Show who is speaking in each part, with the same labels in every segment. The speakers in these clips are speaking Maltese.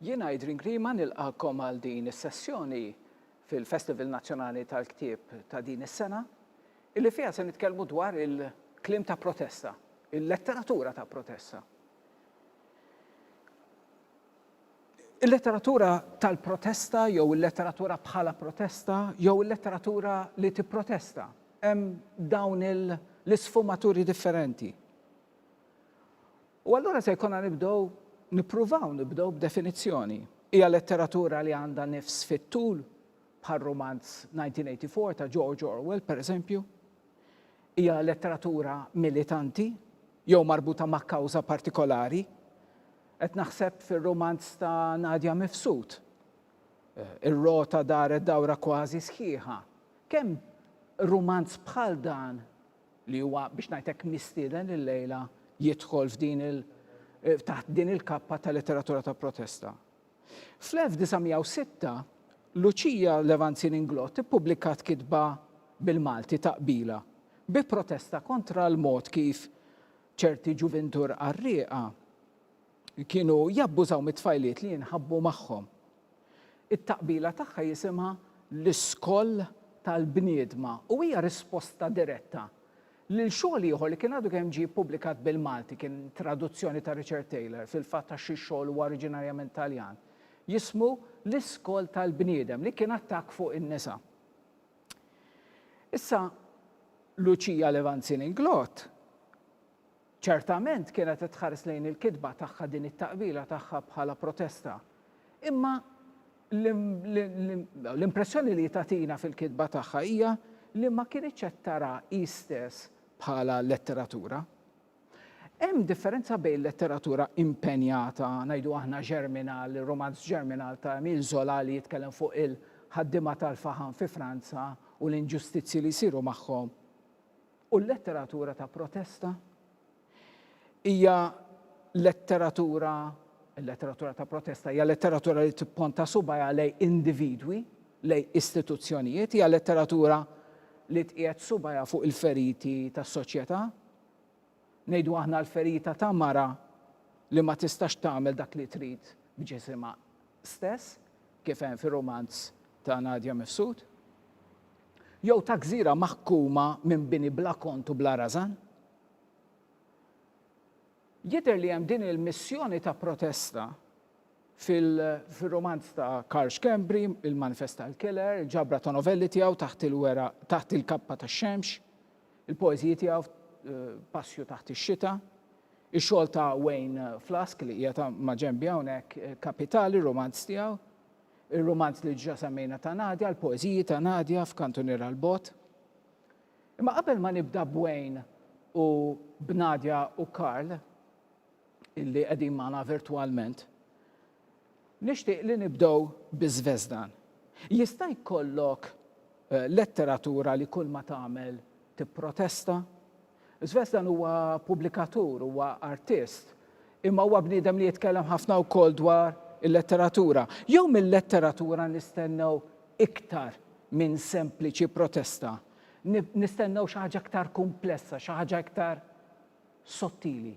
Speaker 1: Jien Adrian Grima nilqakom għal din is-sessjoni fil-Festival Nazzjonali tal-Ktieb ta' din is-sena, illi fiha se nitkellmu dwar il-kliem ta' protesta, il-letteratura ta' protesta. Il-letteratura tal-protesta jew il-letteratura bħala protesta jew il-letteratura li tipprotesta. Hemm dawn l-isfumaturi differenti. U allura se jkollna nibdew nippruvaw nibdew b'definizzjoni. Hija letteratura li għandha nifs fit-tul bħal rumanz 1984 ta' George Orwell, pereżempju. Hija letteratura militanti jew marbuta ma' kawża partikolari. Qed naħseb fir-rumanz ta' Nadia Mifsud. Ir-rota daret dawra kważi sħiħa. Kemm rumanz bħal dan, li huwa biex ngħidlek mistieden illejla jidħol f'din il taħt din il-kappa ta' letteratura ta' protesta. Fl-1906, Luċija Levanzin Inglott ippubblikat kitba bil-Malti ta' qbila bi protesta kontra l-mod kif Ċerti ġuvintur qarrieqa kienu jabbużaw mit-tfajliet li jinħabbu magħhom. It-taqbila tagħha jisimha l-iskoll tal-bniedma u hija risposta diretta lil xogħol ieħor li kien għadu kemm ġie ppubblikat bil-Malti, kien traduzzjoni ta' Richard Taylor, fil-fatt għax ix-xogħol huwa oriġinarjament Taljan, jismu L-iskoll tal-bniedem, li kien attakk fuq in-nisa. Issa, Lucia Levanzin-Inglott ċertament kienet qed tħares lejn il-kitba tagħha din it-taqbila tagħha bħala protesta. Imma l-impressjoni li tagħtina fil-kitba tagħha hija li ma kinitx qed tara hi stess bħala letteratura. Hemm differenza bejn letteratura impenjata, ngħidu aħna Germinal, ir-rumanz Germinal ta' Emile Zola li jitkellem fuq il-ħaddiema tal-faħam fi Franza u l-inġustizzji li jsiru magħhom, u l-letteratura ta' protesta? Hija letteratura, il-letteratura ta' protesta hija letteratura li tipponta subajha lejn individwi, lejn istituzzjonijiet, hija letteratura li tqiegħed subajha fuq il-feriti tas-soċjetà, Ngħidu aħna l-ferita ta' mara li ma tistax tagħmel dak li trid b'ġisimha stess, kif hemm fir-rumanz ta' Nadia Mifsud, jew ta' gżira maħkuma minn bini bla kont u bla rażan? Jidher li hemm din il-missjoni ta' protesta fil-rumanz ta' Karl Schembri, Il-Manifest tal-Killer, il-ġabra ta' novelli tiegħu Taħt il-Kappa tax-Xemx, Il-poeżiji tiegħu Passju taħt ix-xita, ix-xogħol ta' Wayne Flask li qiegħed ma' ġenbi hawnhekk, Kapitali, ir-rumanz tiegħu, ir-rumanz li diġà semmejna ta' Nadja, l-poeżiji ta' Nadja f'Kantuniera l-Bogħod. Imma qabel ma nibda b'Wayne u b'Nadja u Karl, illi qegħdin magħna virtwalment, Nixtieq li nibdew bi Zvezdan. Jista' jkollok letteratura li kull ma tagħmel tipprotesta? Zvezdan huwa pubblikatur, huwa artist, imma huwa bniedem li jitkellem ħafna wkoll dwar il-letteratura. Jew mil-letteratura nistennew iktar minn sempliċi protesta? Nistennew xi ħaġa iktar kumplessa, xi ħaġa iktar sottili?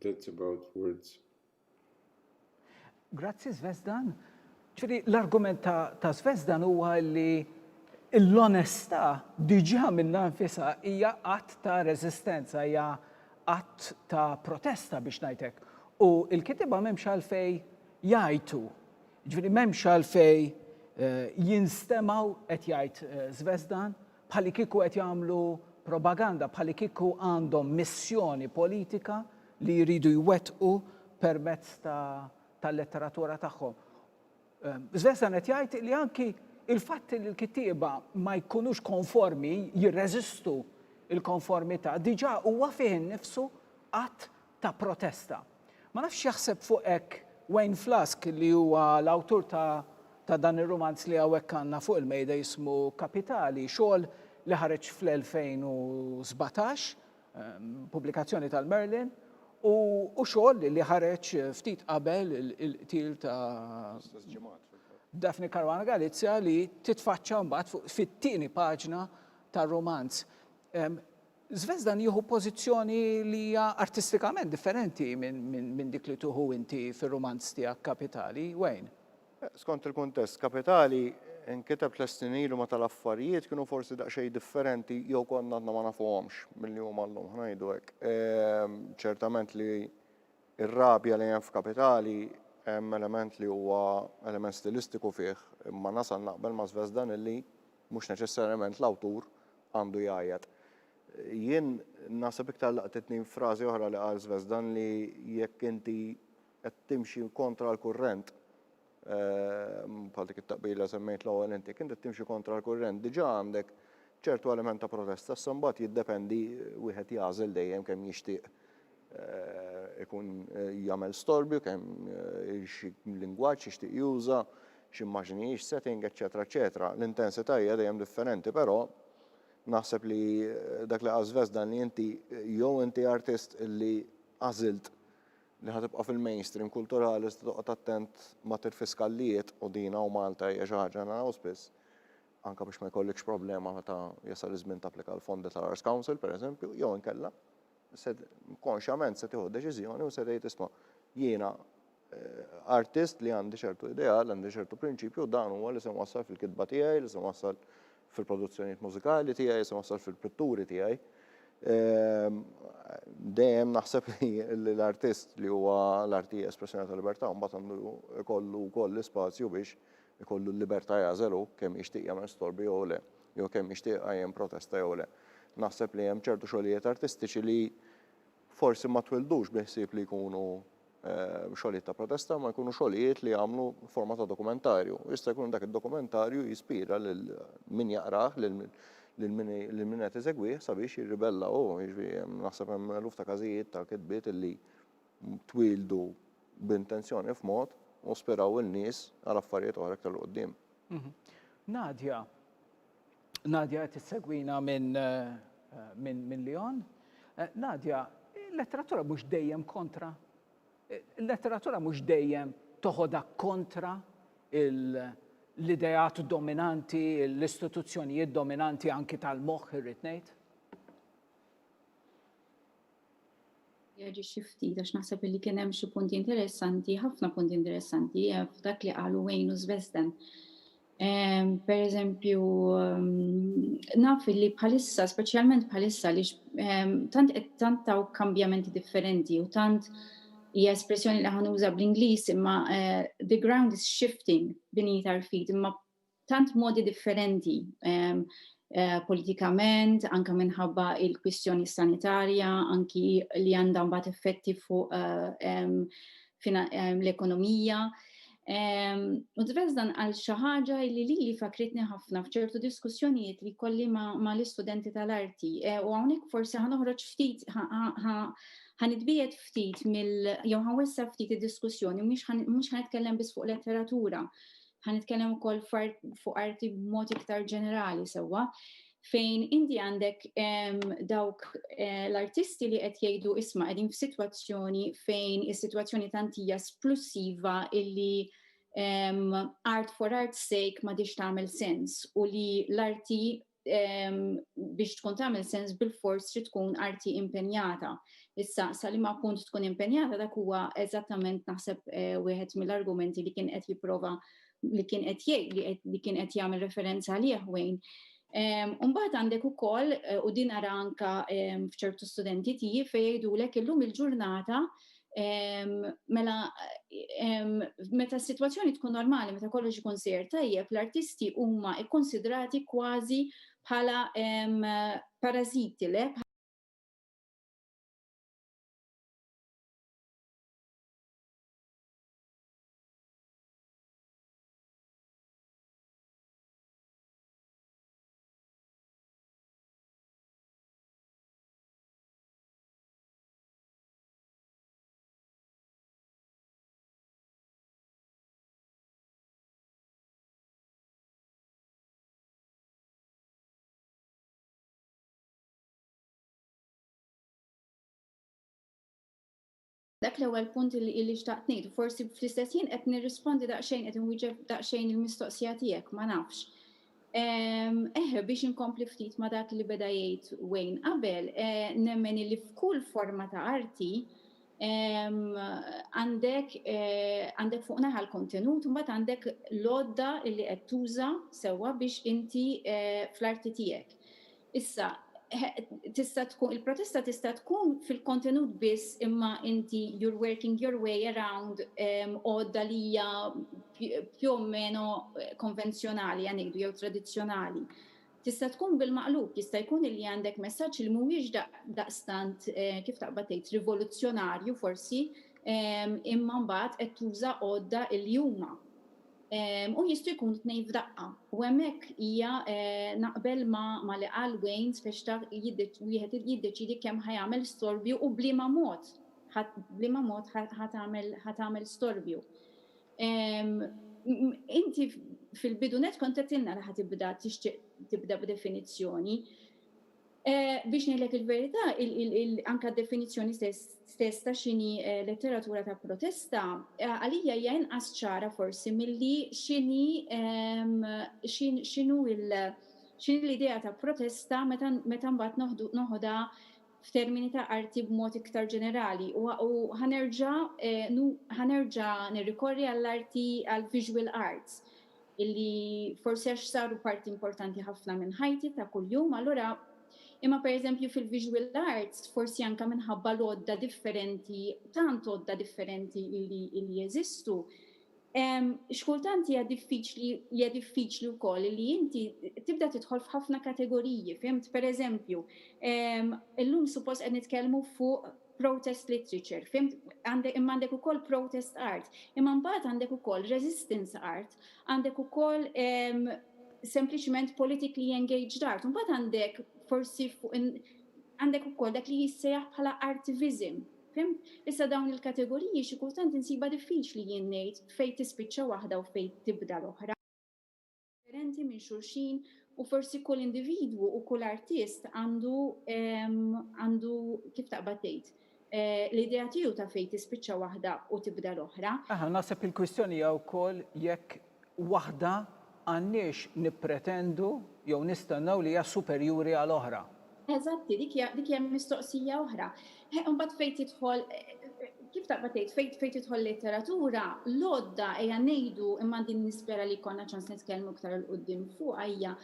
Speaker 2: That's about words.
Speaker 1: Grazzi Zvezdan. Ġifieri l-argument ta' ta' Zvezdan huwa li l-onestà diġà minnha nfisha hija att ta' reżistenza, hija att ta' protesta biex ngħid hekk. U l-kittieba m'hemmx għalfejn jgħajtu. Ġifieri m'hemmx għalfejn jinstemaw qed jgħid Zvezdan bħalikieku qed jagħmlu propaganda, bħalikieku għandhom missjoni politika li jridu jwettqu permezz ta' tal-letteratura tagħhom. Svensson qed jgħid li anki il-fatt li l-kittieba ma jkunux konformi, jirreżistu il-konformità, diġà huwa fih innifsu att ta' protesta. Ma nafx x'jaħseb fuq hekk Wayne Flask li huwa l-awtur ta' ta' dan ir-rumanz li hawnhekk għandna fuq il-mejda jismu Kapitali, xogħol li ħareġ fl-2017, pubblikazzjoni tal-Merlin, u u xogħol li ħareġ ftit qabel il-qtil ta' L-istess ġimgħat fil-fatt. Daphne Caruana Galizia li titfaċċa mbagħad fuq fit-tieni paġna tar-rumanz. Zvezdan jieħu pożizzjoni li hija artistikament differenti minn dik li tieħu inti fir-rumanz tiegħek Kapitali, Wayne. Skont il-kuntest,
Speaker 3: Kapitali nkiteb tliet snin ilu meta l-affarijiet kienu forsi daqsxejn differenti jew konna għadna ma nafuhomx milli huma llum, ħa ngħidu hekk. Ċertament li r-rabja li hemm f'Kapitali hemm element li huwa element stilistiku fih, imma nasal naqbel ma' Zvezdan illi, Mhux neċessarjament l-awtur għandu jgħajjat. Jien naħseb iktar laqtitni frażi oħra li qal Zvezdan li jekk inti qed timxi kontra l-kurrent, bħal dik it-taqbila li semmejt l-ewwel int, jekk inti qed timxi kontra l-kurrent diġà għandek ċertu element ta' protesta, issa mbagħad jiddependi wieħed jagħżel dejjem kemm jixtieq ikun jagħmel storbju kemm xi lingwaġġ jixtieq juża, x'immaġni hix setting, eċċetera eċċetera. L-intensità hija dejjem differenti, però naħseb li dak li qal Zvezdan li inti jew inti artist li għażilt li ħa tibqa' fil-mainstream kulturali iżda toqgħod attent ma tirfiskallijiet u din hawn Malta hija xi ħaġa naraw spiss anke biex ma jkollikx problema meta jasal iż-żmien tapplika għall-fondi tal-Arts Council pereżempju jew inkella se konxjament se tieħu deċiżjoni u se tgħid isma' jiena eh, artist li għandi ċertu ideal, għandi ċertu prinċipju, dan huwa li se wassal fil-kitba tiegħi, li se wassal fil-produzzjonijiet mużikali tiegħi, se wassal fil-pitturi tiegħi. Ehm, dejjem naħseb li l-artist li huwa l-arti espressjoni tal-libertà mbagħad għandu kollu wkoll l-ispazju biex ikollu l-libertà jagħżel hu kemm jixtieq jagħmel storbi jew le, jew kemm jixtieq iqajjem protesta jew le. Naħseb li hemm ċertu xogħlijiet artistiċi li forsi ma twildux bi ħsieb li jkunu xogħlijiet ta' protesta, imma jkunu xogħlijiet li jagħmlu forma ta' dokumentarju. U jista' jkun dak id-dokumentarju jispira lil min jaqrah, lil min qed iżegwih sabiex jirribella hu. Jiġifieri naħseb hemm eluf ta' każijiet ta' kitbiet li twildu b'intenzjoni f'mod u spiraw in-nies għal affarijiet oħra iktar 'l quddiem. Nadia,
Speaker 1: Nadia qed issegwina minn minn minn Lyon. Nadia, il-letteratura mhux dejjem kontra. Il-letteratura mhux dejjem toħodha kontra l-ideat dominanti, l-istituzzjonijiet dominanti anki tal-moħħ irrid ngħid.
Speaker 4: Jaġixxi ftit għax naħseb li kien hemm xi punti interessanti, ħafna punti interessanti eh, f'dak li qalu Wayne u Svesden. Ehm, per eżempju, ehm, naf li bħalissa, speċjalment bħalissa, li ehm, tant qed tant taw kambjamenti differenti u tant hija espressjoni li ħanuża bl-Ingliż imma eh, the ground is shifting beneath our feet imma tant modi differenti politikament, anke minħabba il-kwistjoni sanitarja, anki li għandha mbagħad effetti fuq l-ekonomija. U Tves dan qal xi ħaġa li lili fakkritni ħafna f'ċertu diskussjonijiet li jkolli mal-istudenti tal-arti. U hawnhekk forsi ħa noħroġ ftit ħa nitbiegħed ftit mill jew ħa nwessa' ftit id-diskussjoni mhux ħa nitkellem biss fuq letteratura. Ħa nitkellem ukoll fuq arti b'mod iktar ġenerali sewwa fejn inti għandek dawk eh, l-artisti li qed jgħidu isma' qegħdin f'sitwazzjoni fejn is-sitwazzjoni tantija splussiva illi um, art for art's sake ma diċ tagħmel sens u li l-arti biex tkun tagħmel sens bil-fors trid tkun arti impenjata. Issa sa li ma punt tkun impenjata dak huwa eżattament naħseb eh, wieħed mill-argumenti li kien qed jipprova li kien qed jgħid li kien qed jagħmel referenza għalih wejn. Umbagħad għandek ukoll eh, u din ara anka f'ċertu studenti tiegħi fejn jgħidulek illum il-ġurnata Mela, meta s-sitwazzjoni tkun normali, meta kollox ikun sejr tajjeb, l-artisti huma kkunsidrati kważi bħala parażiti, le? Dak l-ewwel punt li illi xtaqt ngħid, forsi fl-istess ħin qed nirrispondi daqsxejn qed inwieġeb daqsxejn il-mistoqsija tiegħek, ma nafx. Eħ, biex inkompli ftit ma' dak li beda jgħid Wayne qabel, nemmen illi f'kull forma ta' arti għandek għandek fuq naħa l-kontenut u mbagħad għandek l-għodda illi qed tuża sewwa biex inti fl-arti tiegħek. Issa, tista' tkun, il-protesta tista' tkun fil-kontenut biss imma inti you're working your way around għodda li hija più o meno konvenzjonali ħa ngħidu jew tradizzjonali. Tista' tkun bil-maqlub, jista' jkun illi għandek messaġġ li mhuwiex daqstant, kif taqbad tgħid, rivoluzzjonarju forsi imma mbagħad qed tuża għodda illi huma. U jistgħu jkunu tnejn f'daqqa. U hemmhekk hija naqbel ma' li qal Wayne spex taf wieħed jiddeċiedi kemm ħa jagħmel storbju u b'liema mod b'liema mod ħa tagħmel ħa tagħmel storbju. Inti fil-bidu nett kont għedtilna li ħa tibda tixtieq tibda b'definizzjoni. Biex ngħidlek il-verità, anke d-definizzjoni stess ta' x'inhi letteratura ta' protesta għalija hija inqas ċara forsi milli x'inhi x'inhu x'inhi l-idea ta' protesta meta mbagħad noħodha f'termini ta' arti b'mod iktar ġenerali u ħa nerġa' ħa nerġa' nirrikorri għall-arti għall-visual arts. illi forsi għax saru parti importanti ħafna minn ħajti ta' kuljum, allura imma pereżempju fil-visual arts forsi anke minħabba l-għodda differenti, tant għodda differenti illi illi jeżistu, x'kultant hija diffiċli hija diffiċli wkoll li inti tibda tidħol f'ħafna kategoriji, fimt? Pereżempju, illum suppost qed nitkellmu fuq protest literature, fhimt? Għandek, imma għandek ukoll protest art, imma mbagħad għandek ukoll resistance art, għandek ukoll ehm, sempliċement politically engaged art, mbagħad għandek forsi fuq għandek ukoll dak li jissejjaħ bħala artivism. Fim? Issa dawn il-kategoriji xi kultant insiba diffiċli jien ngħid fejn tispiċċa waħda u fejn tibda l-oħra. differenti minn xulxin u forsi kull individwu u kull artist għandu għandu kif taqbad tgħid eh, l-idea tiegħu ta' fejn tispiċċa waħda u tibda l-oħra. Aha, naħseb il-kwistjoni
Speaker 1: hija wkoll jekk waħda għandniex nippretendu jew nistennew li hija superjuri għal oħra. Eżatti, dik hija
Speaker 4: dik hija mistoqsija oħra. Eh, imbagħad fejn tidħol kif taqbad tgħid fejn fejn tidħol letteratura, l-għodda hija ngħidu imma din nispera li jkollna ċans nitkellmu iktar il qudiem fuq hija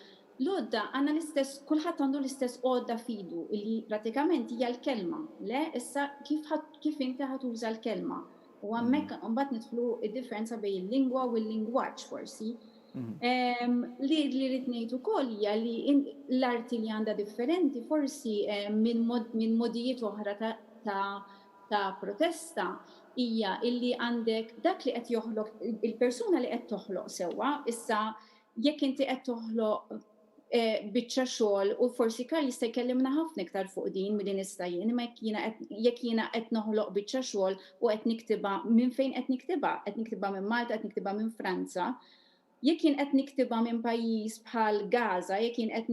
Speaker 4: l-għodda għandna l-istess kulħadd għandu l-istess għodda fidu li pratikament hija l-kelma. Le, issa kif kif inti ħatuża l-kelma. U hemmhekk imbagħad nidħlu id-differenza bejn il-lingwa u l-lingwaġġ forsi. Li li rrid ngħid ukoll hija li l-arti li għandha differenti forsi minn modijiet oħra ta' protesta hija li għandek dak li qed joħloq il-persuna li qed toħloq sewwa, issa jekk inti qed toħloq biċċa xogħol u forsi Karl jista' jkellimna ħafna iktar fuq din milli nista' jien, imma jekk jiena qed jekk jiena qed noħloq biċċa xogħol u qed niktibha minn fejn qed niktibha, qed niktibha minn Malta, qed niktibha minn Franza, jekk jien qed niktibha minn pajjiż bħal Gaza, jekk jien qed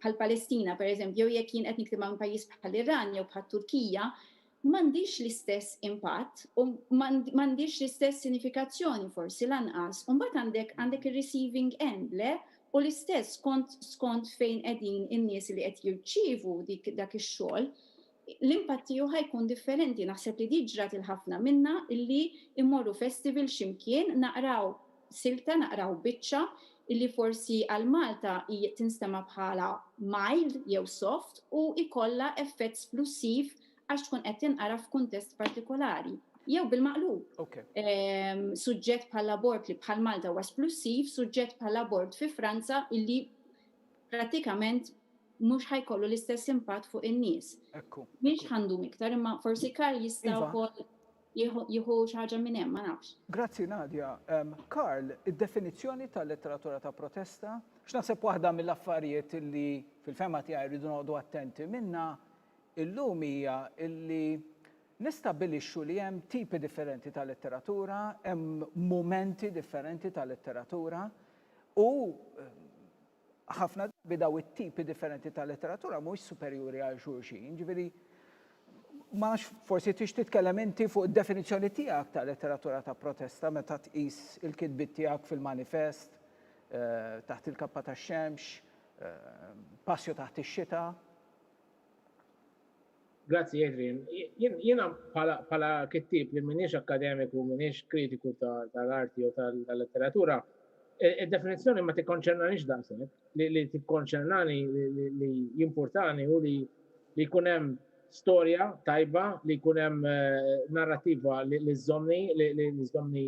Speaker 4: bħall-Palestina pereżempju, jew jekk jien qed niktibha minn pajjiż bħall-Iran jew bħat-Turkija, m'għandhiex l-istess impatt u m'għandhiex l-istess sinifikazzjoni forsi lanqas. U mbagħad għandek għandek ir-receiving end, le? U l-istess skont skont fejn qegħdin in-nies li qed jirċievu dik dak ix-xogħol, l-impatt tiegħu ħa jkun differenti. Naħseb li di ġrat 'il ħafna minna illi mmorru festival xi mkien, naqraw, silta naqraw biċċa illi forsi għal Malta hi tinstema' bħala mild jew soft u jkollha effett splussiv għax tkun qed tinqara f'kuntest partikolari. Jew bil-maqlub. Suġġett bħall-abort li bħal Malta huwa splussiv, suġġett bħall-abort fi Franza illi prattikament mhux ħa jkollu l-istess impatt fuq in-nies. Mhix ħa ndum iktar imma forsi Karl jista' wkoll. jieħu xi ħaġa minn hemm, ma nafx. Grazzi Nadia.
Speaker 1: Karl, id-definizzjoni ta' letteratura ta' protesta, għax naħseb waħda mill-affarijiet li fil-fehma tiegħi rridu noqogħdu attenti minnha illum hija li nistabbilixxu li hemm tipi differenti ta' letteratura, hemm mumenti differenti ta' letteratura u Ħafna drabi dawn it-tipi differenti ta' letteratura mhux superjuri għal xulxin, ġifieri ma nafx forsi tix titkellem inti fuq id-definizzjoni tiegħek ta' letteratura ta' protesta meta tqis il-kitbiet tiegħek fil-Manifest, eh, Taħt il-Kappa tax-Xemx, eh, Passju taħt ix-Xita.
Speaker 5: Grazzi Adrian. Jiena bħala kittieb li m'iniex akkademiku, m'iniex kritiku tal-arti jew tal-letteratura, id-definizzjoni ma tikkonċernaniex daqshekk. Li tikkonċernani, li jimpurtani hu li jkun hemm storja tajba, li jkun hemm narrattiva li żżommni, li żżommni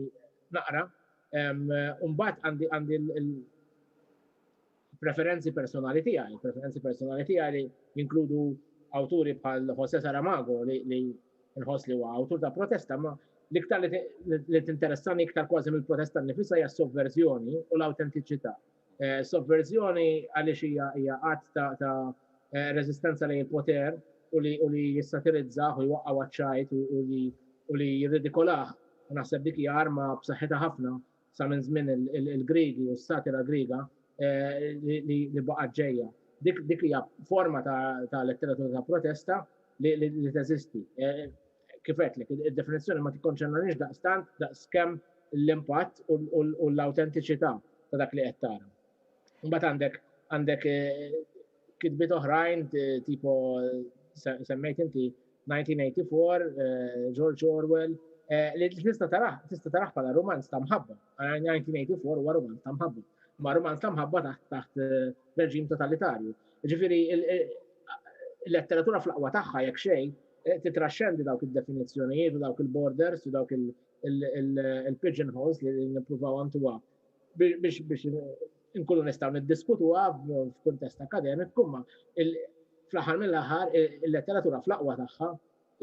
Speaker 5: naqra. U mbagħad għandi l-, preferenzi personali tiegħi, preferenzi personali tiegħi li jinkludu awturi bħal Jose Saramago li, li nħoss li huwa awtur ta' protesta, ma l-iktar li tinteressani iktar kważi mill-protesta nifisa hija s-sovverżjoni u l-awtentiċità. Eh, sovverżjoni għaliex hija hija qatt ta', ta eh, reżistenza lejn il-poter u li, u li jissatirizzaħ u jwaqqaw għadċajt u li, u li jirridikolaħ. Naħseb dik hija arma b'saħħitha ħafna sa minn żmien il-Griegi u s-satira Griega li baqgħet ġejja. Dik hija forma ta' letteratura ta' protesta li teżisti. Kif għedtlek, id-definizzjoni ma tikkonċernanix daqstant daqskemm l-impatt u l-awtentiċità ta' dak li qed tara. Imbagħad għandek għandek kitbiet oħrajn tipo semmejt inti 1984, George Orwell, li tista' taraħ tista' taraħ bħala romanz ta' mħabba. 1984 huwa romanz ta' mħabba. Ma romanz ta' mħabba taħt taħt reġim totalitarju. Ġifieri il-letteratura fl-aqwa tagħha jekk xejn titraxxendi dawk id-definizzjonijiet u dawk il-borders u dawk il-pigeonholes li nippruvaw għantuha biex inkunu nistgħu niddiskutuha f'kuntest akademiku, imma fl-aħħar mill-aħħar il-letteratura fl-aqwa tagħha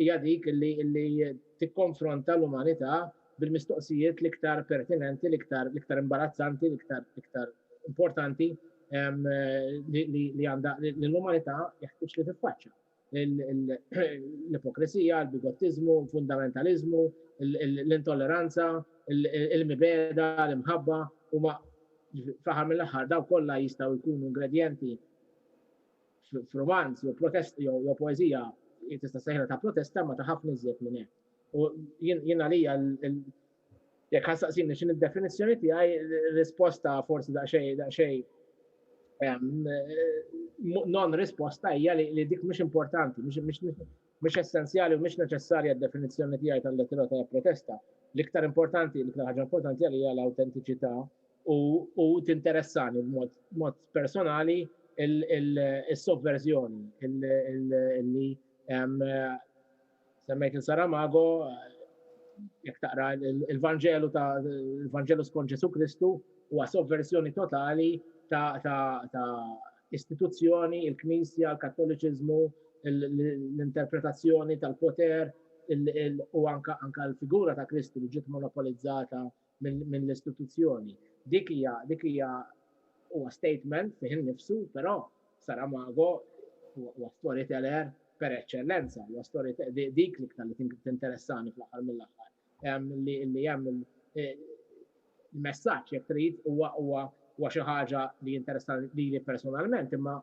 Speaker 5: hija dik li tikkonfronta l-umanità bil-mistoqsijiet l-iktar pertinenti, l-iktar imbarazzanti, l-iktar importanti li l-umanità jeħtieġ li tiffaċċja. l-ipokrisija, l-bigottiżmu, l-fundamentaliżmu, l-intolleranza, il-mibeda, l-imħabba, u ma fl-aħħar mill-aħħar daw kollha jistgħu jkunu ingredjenti f'romanz jew protest jew poeżija tista' sejħla ta' protesta ma ta' ħafna iżjed minn hekk. U jien għalija Jekk ħassaqsini x'in id-definizzjoni tiegħi, risposta forsi daqsxejn daqsxejn non risposta hija li dik mhux importanti, mhux essenzjali u mhux neċessarja d-definizzjoni tiegħi tal-lettera ta' protesta. L-iktar importanti, l-iktar ħaġa importanti għalija l-autentiċità u tinteressani b'mod personali il-sovverżjoni li Semmejt il Saramago, jekk taqra il-Vanġelu ta' il-Vanġelu skont Ġesu Kristu huwa sovversjoni totali ta' istituzzjoni, il-Knisja, l-Kattoliċiżmu, l-interpretazzjoni tal-poter u anka l-figura ta' Kristu li ġiet monopolizzata mill-istituzzjoni. Dik hija dik hija huwa statement fih innifsu, però Saramago huwa storyteller per eċċellenza, huwa story dik l-iktar li tinteressani fl-aħħar mill-aħħar. Li hemm il-messaġġ jekk trid huwa huwa huwa xi ħaġa li jinteressani lili personalment imma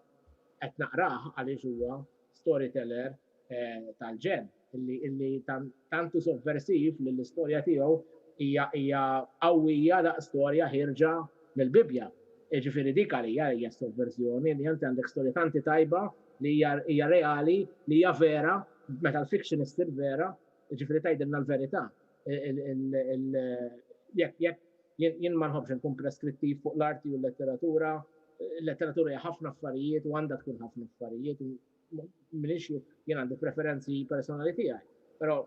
Speaker 5: qed naqrah għaliex huwa storyteller eh, tal-ġen illi tantu sovversiv li l-istorja tiegħu hija hija qawwija da storja ħirġa mill-Bibbja. Ġifieri dik għalija hija sovverżjoni li inti għandek storja tanti tajba li hija reali, li hija vera, meta l-fiction issir vera, ġifieri tgħidilna l-verità. Jekk jekk jien ma nħobbx nkun preskrittiv fuq l-arti u l-letteratura, l-letteratura hija ħafna affarijiet u għandha tkun ħafna affarijiet Minix jien għandi preferenzi personali tiegħi, però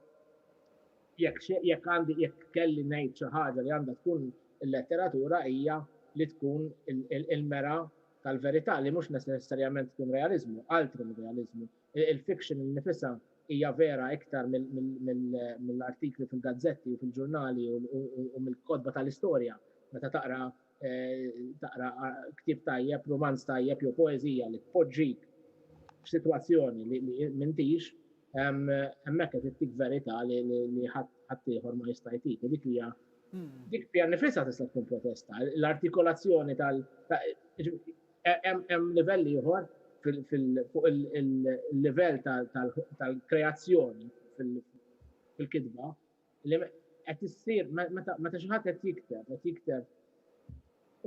Speaker 5: jekk għandi jekk kelli ngħid xi ħaġa li għandha tkun il-letteratura hija li tkun il-mera tal-verità li mhux neċessarjament tkun realiżmu, altri mir-realiżmu. Il-fiction innifisha hija vera iktar mill-artikli fil-gazzetti u fil-ġurnali u mill-kotba tal-istorja meta taqra taqra ktib tajjeb, romanz tajjeb jew poeżija li tpoġġik f'sitwazzjoni li m'intix, hemmhekk qed ittik verità li ħadd ieħor ma jista' jtik. Dik hija hmm. dik pjan nifisha tista' tkun protesta. L-artikolazzjoni tal hemm livell ieħor fuq il-livell tal-kreazzjoni fil-kitba li qed issir meta xi ħadd qed jikteb, qed jikteb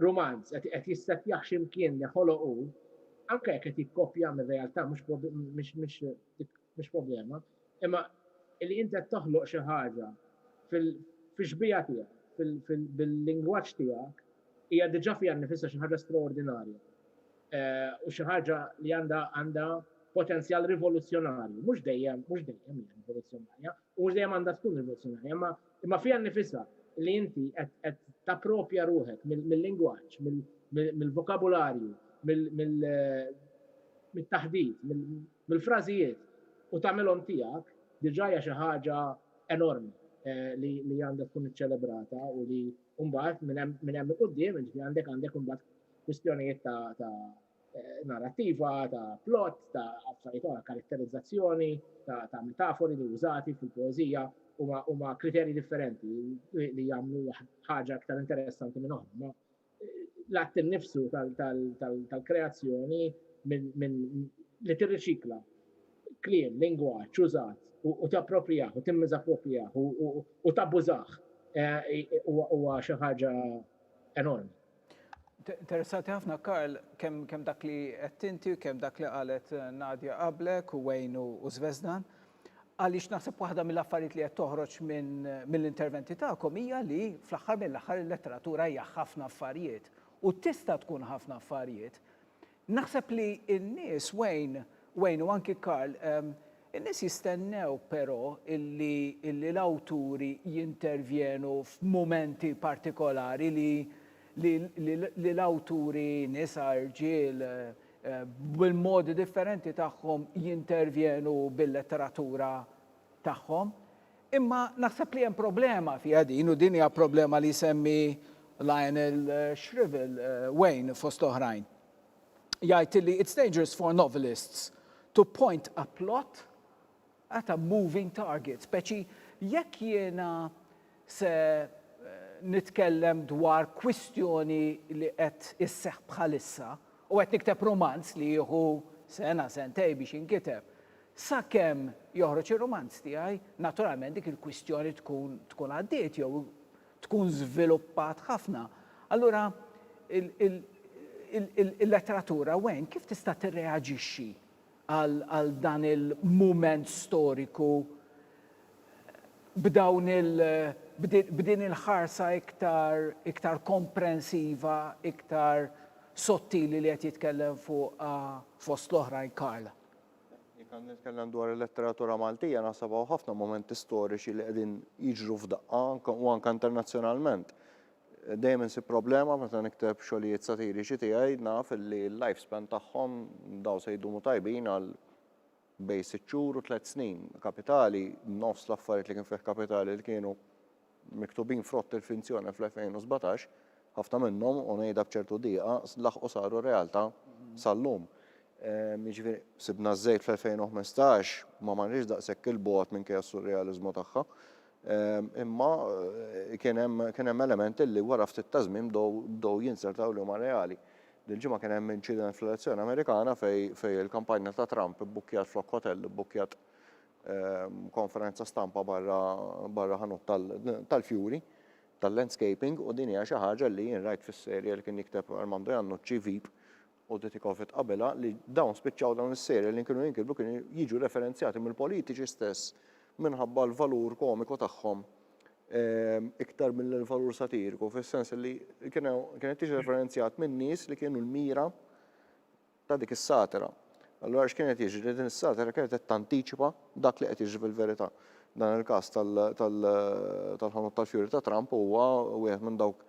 Speaker 5: rumanz, qed jissettjaħ x'imkien li ħoloq hu, anke jekk qed jikkopja mir-realtà mhux problema, imma li inti qed toħloq xi ħaġa fix-xbieha tiegħek, bil-lingwaġġ tiegħek, hija diġà fiha nnifisha xi ħaġa straordinarja u xi ħaġa li għandha potenzjal rivoluzzjonarju, mhux dejjem hija rivoluzzjonarja, U mhux dejjem għandha tkun rivoluzzjonarja, imma imma fiha nnifisha li inti qed qed tapproprja ruħek mill-lingwaġġ, mill-vokabularju, mit-taħdit, mill-frażijiet u tagħmilhom tiegħek, diġà hija xi ħaġa enormi li għandha tkun iċċelebrata u li mbagħad minn hemm minn hemm 'il quddiem, jiġifieri għandek għandek imbagħad kwistjonijiet ta' ta' eh, narrativa, ta' plot, ta' affarijiet oħra, karatterizzazzjoni, ta', ta metafori li użati fil-poezija huma kriterji differenti li jagħmlu ħaġa aktar interessanti minn oħra. Eh, l-att nifsu tal-kreazzjoni minn li tirriċikla kliem, lingwa, ċużat, u tapproprijaħ, u timmiz approprijaħ, u tabbużaħ, eh, huwa xi ħaġa enormi.
Speaker 1: Interessanti ħafna Karl, kemm kemm dak li qed inti u kemm dak li qalet Nadia qablek u Wayne u Zvezdan. Għaliex naħseb waħda mill-affarijiet li qed toħroġ minn mill-interventi tagħkom hija li fl-aħħar mill-aħħar il-letteratura hija ħafna affarijiet u tista' tkun ħafna affarijiet. Naħseb li n-nies, Wayne, Wayne u anki Karl, in-nies jistennew però illi illi l-awturi jintervjenu f'mumenti partikolari li li li li l-awturi, nisa, irġiel, bil-modi differenti tagħhom jintervjenu bil-letteratura tagħhom. Imma naħseb li hemm problema fiha din u din hija problema li jsemmi Lionel Shrivel, Wayne fost oħrajn. Jgħid li it's dangerous for novelists to point a plot at a moving target, speċi jekk jiena se eh, nitkellem dwar kwistjoni li qed isseħ bħalissa u qed nikteb romanz li jieħu sena sentej biex inkiteb. Sakemm joħroġ ir-rumanz tiegħi, naturalment dik il-kwistjoni tkun tkun għaddiet jew tkun żviluppat ħafna. Allura il-letteratura wen kif tista' tirreaġixxi għal dan il-mument storiku b'dawn il b'din il-ħarsa iktar iktar komprensiva, iktar sottili li qed jitkellem fuqha fost l-oħrajn Karl? Jekk għandi
Speaker 3: nitkellem dwar il-letteratura Maltija naħseb hawn ħafna mumenti storiċi li qegħdin jiġru f'daqqa u anke internazzjonalment. Dejjem insib problema meta nikteb xogħlijiet satiriċi tiegħi naf li l-life span tagħhom daw se jdumu tajbin għal bejn sitt xhur u tliet snin. Kapitali, nofs l-affarijiet li kien fih kapitali li kienu miktubin frott il-finzjoni fl-2017, ħafna minnhom, u ngħidha b'ċertu diqa, laħqu saru realtà sal-lum. Jiġifieri sibna ż-żejt fl-2015 ma marniex daqshekk il-bogħod minkejja s-surrealiżmu tagħha, imma eh, kien hemm elementi li wara ftit ta' żmien bdew jinsertaw li huma reali. Dil-ġimgħa kien hemm inċident fl-elezzjoni Amerikana fej il-kampanja ta' Trump ibbukkjat flok hotel, ibbukkjat konferenza stampa barra barra ħanut tal-fjuri tal-landscaping u din hija xi ħaġa li jien rajt fis-serje li kien jikteb Armando Jannucci Vip u Ditikofit qabelha li dawn spiċċaw dawn is-serje li kienu jinkitbu kienu jiġu referenzjati mill-politiċi stess minħabba l-valur komiku tagħhom ehm, iktar mill-valur satiriku, fis-sens li kienet tiġi referenzjat minn nies li kienu l-mira ta' dik is-satira. Allura x'kien qed jiġri? Din is-satira kienet qed tantiċipa dak li qed jiġri fil-verità. Dan il-każ tal-ħanut tal-fjuri ta' Trump huwa wieħed minn dawk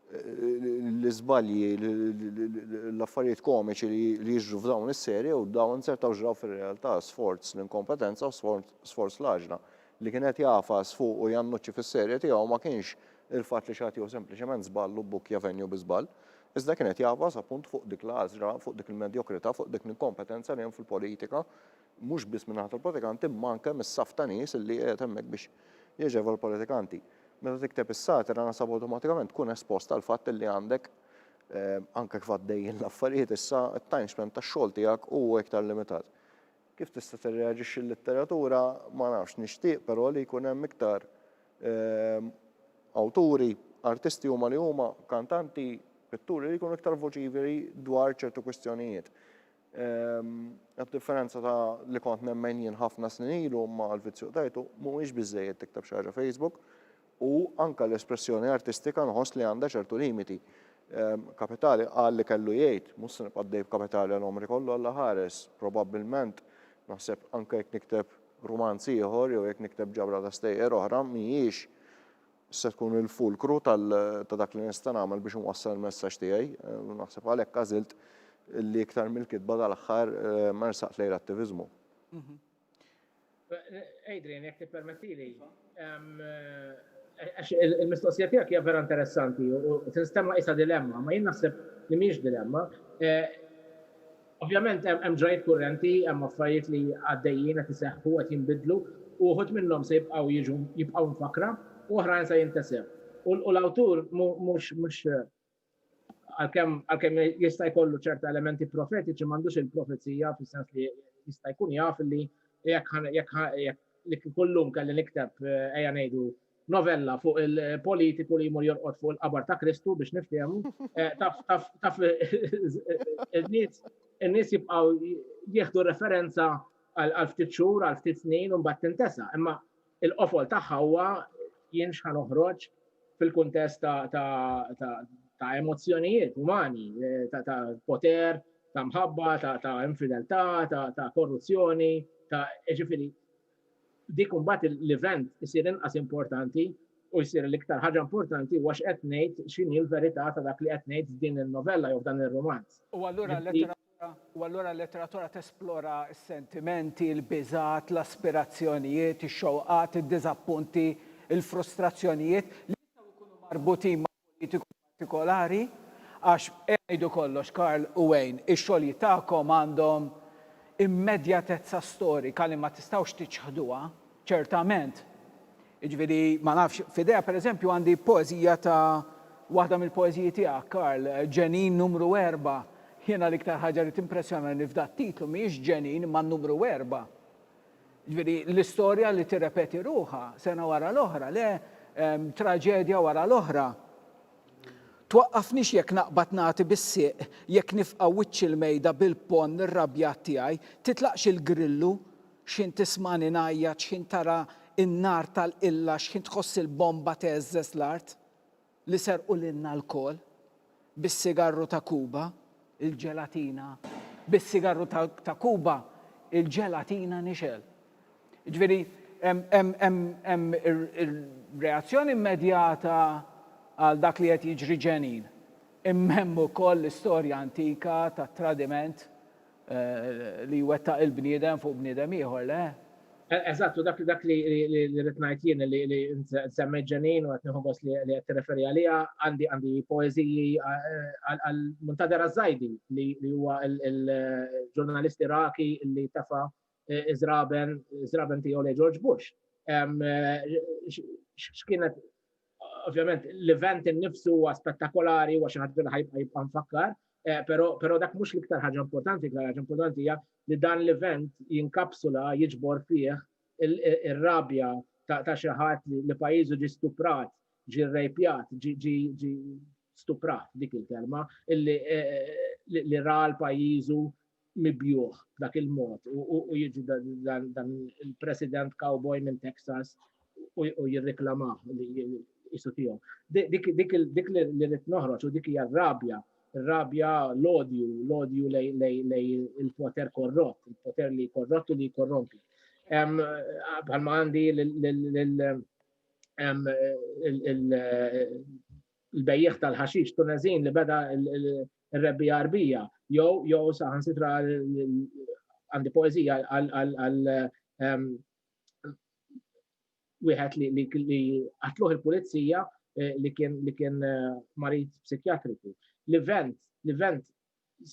Speaker 3: l-iżbalji, l-affarijiet komiċi li jiġru f'dawn is-serje u dawn sertaw ġraw fir-realtà sforz l-inkompetenza u sforz l-għaġla. Li kien qed jagħfas fuq u jannuċċi fis-serje tiegħu ma kienx il-fatt li xi ħadd jieħu sempliċement żball u bbukkja venju bi żball. Iżda kien qed jagħfas appunt fuq dik l-għażla, fuq dik il-medjokrità, fuq dik l-inkompetenza li hemm fil-politika, mhux biss min-naħa tal-politikanti imma anke mis-saff ta' nies li qiegħed hemmhekk biex jaġevol il-politikanti. Meta tikteb is-satira naħseb awtomatikament tkun espost għall-fatt li għandek, anke kif għaddejjin l-affarijiet issa, it-time span tax-xogħol tiegħek huwa iktar limitat. Kif tista' tirreaġixxi l-litteratura? Ma nafx, nixtieq però li jkun hemm iktar awturi, artisti huma li huma, kantanti, pitturi li jkunu iktar voċiferi dwar ċertu kwistjonijiet. B'differenza ta' li kont nemmen jien ħafna snin ilu ma' l-vizzju qtajtu, mhuwiex biżżejjed tikteb xi ħaġa Facebook, u anke l-espressjoni artistika nħoss li għandha ċertu limiti. Kapitali qal li kellu jgħid, mhux se nibqa' għaddej b'Kapitali għal għomri kollu, Alla ħares, probabbilment, naħseb anke jekk nikteb rumanz ieħor jew jekk nikteb ġabra ta' stejjer oħra mhijiex se tkun il-fulkru tal ta' dak li nista' nagħmel biex inwassal il-messaġġ tiegħi. Naħseb għalhekk għażilt li iktar mill-kitba dal-aħħar ersaqt lejn l-attiviżmu.
Speaker 5: Adrian, jekk tippermettili, iva. għax il-mistoqsija tiegħek hija vera interessanti u tinstemma isa dilemma, ma jien naħseb li mhix dilemma. Eh, ovvjament hemm ġrajt kurrenti, hemm affarijiet li għaddejjin qed iseħħu qed jinbidlu u wħud minnhom se jibqgħu jiġu jibqgħu mfakra u oħrajn se jintesew. U l-awtur mhux mhux Għalkemm għalkemm jista' jkollu ċerta elementi profetiċi m'għandux il-profezija fis-sens li jista' jkun jaf li jekk li kullum kelli nikteb eh, ejja ngħidu novella fuq il-politiku li jmur jorqod fuq il-qabar ta' Kristu biex niftehmu, eh, taf taf taf in-nies in-nies jibqgħu jieħdu referenza għal ftit xhur, għal ftit snin u mbagħad tintesa. Imma Il-qofol tagħha huwa jien x'ħa noħroġ fil-kuntest ta' emozzjonijiet umani, ta' poter, ta' mħabba, ta' infideltà, ta' korruzzjoni, ta' ġifieri dik imbagħad l-event isir inqas importanti u jsir l-iktar ħaġa importanti huwa x'qed ngħid x'inhi l-verità ta' dak li qed ngħid f'din in-novella jew f'dan ir-rumanz. U allura l-lettera
Speaker 1: u allura l-letteratura tesplora s-sentimenti, il-biżgħat, l-aspirazzjonijiet, ix-xewqat, id-diżappunti, il-frustrazzjonijiet li jistgħu jkunu marbutin ma' politiku partikolari, għax, għidu kollox, Karl u Wayne, ix-xogħlijiet tagħkom għandhom immedjatezza storika li ma tistgħux tiċħduha. Ċertament. Jiġifieri, ma nafx, f'idejha pereżempju għandi poeżija ta' waħda mill-poeżiji tiegħek, Karl, Ġenin Numru Erba'. Jiena l-iktar ħaġa li timpressjonani f'dat-titlu mhijiex ġenin imma n-numru erba'. Jiġifieri, l-istorja li tirrepeti ruħha sena wara l-oħra, le, traġedja wara l-oħra. Twaqqafnix jekk naqbad nagħti bis-sieq, jekk nifqa' wiċċ il-mejda bil-ponn irrabjat tiegħi, titlaqx il-grillu X'ħin tismagħni ngħajjat, x'ħin tara n-nar tal-qilla, x'ħin tħoss il-bomba tgħeżżeż l-art li serqu lilna lkoll bis-sigarru ta' Kuba, il-ġelatina bis-sigarru ta' Kuba, il-ġelatina nixgħel. Jiġifieri hemm ir-reazzjoni immedjata għal dak li qed jiġri ġenin, imma hemm ukoll l-istorja antika tat-tradiment li jwettaq il-bniedem fuq bniedem ieħor, le? Eżatt, u
Speaker 5: dak dak li rrid ngħid jien li semmejt Ġenin u qed nieħu gost li qed tirreferi għaliha, għandi għandi poeżiji għal Muntader Azzajdi li huwa l-ġurnalist Iraqi li tefa' iżraben, iżraben tiegħu lej George Bush. X'kienet ovvjament l-event innifsu huwa spettakolari huwa xi ħadd li ħajbqa' jibqa' nfakkar, eh, però dak mhux l-iktar ħaġa importanti, l ħaġa importanti hija li dan l-event jinkapsula jiġbor fih ir-rabja ta' xi ħadd li pajjiżu ġi stuprat, ġi rejpjat, ġi stuprat dik il-kelma, li eh, ra l-pajizu mibjuħ dak il-mod u jiġi dan il-president cowboy minn Texas u jirreklamaħ li jisu tijom. Dik li rrit noħroċ u dik hija rabja rabja l-odju, l-odju lej il-poter korrott, il-poter li korrott u li korrompi. Bħalma għandi l-bejjiegħ tal-ħaxix Tuneżin li beda r-rebbiegħa Għarbija jew jew saħansitra għandi poeżija għal ehm, wieħed li qatluh il-pulizija eh, li kien li kien eh, marid psikjatriku. L-event, l-event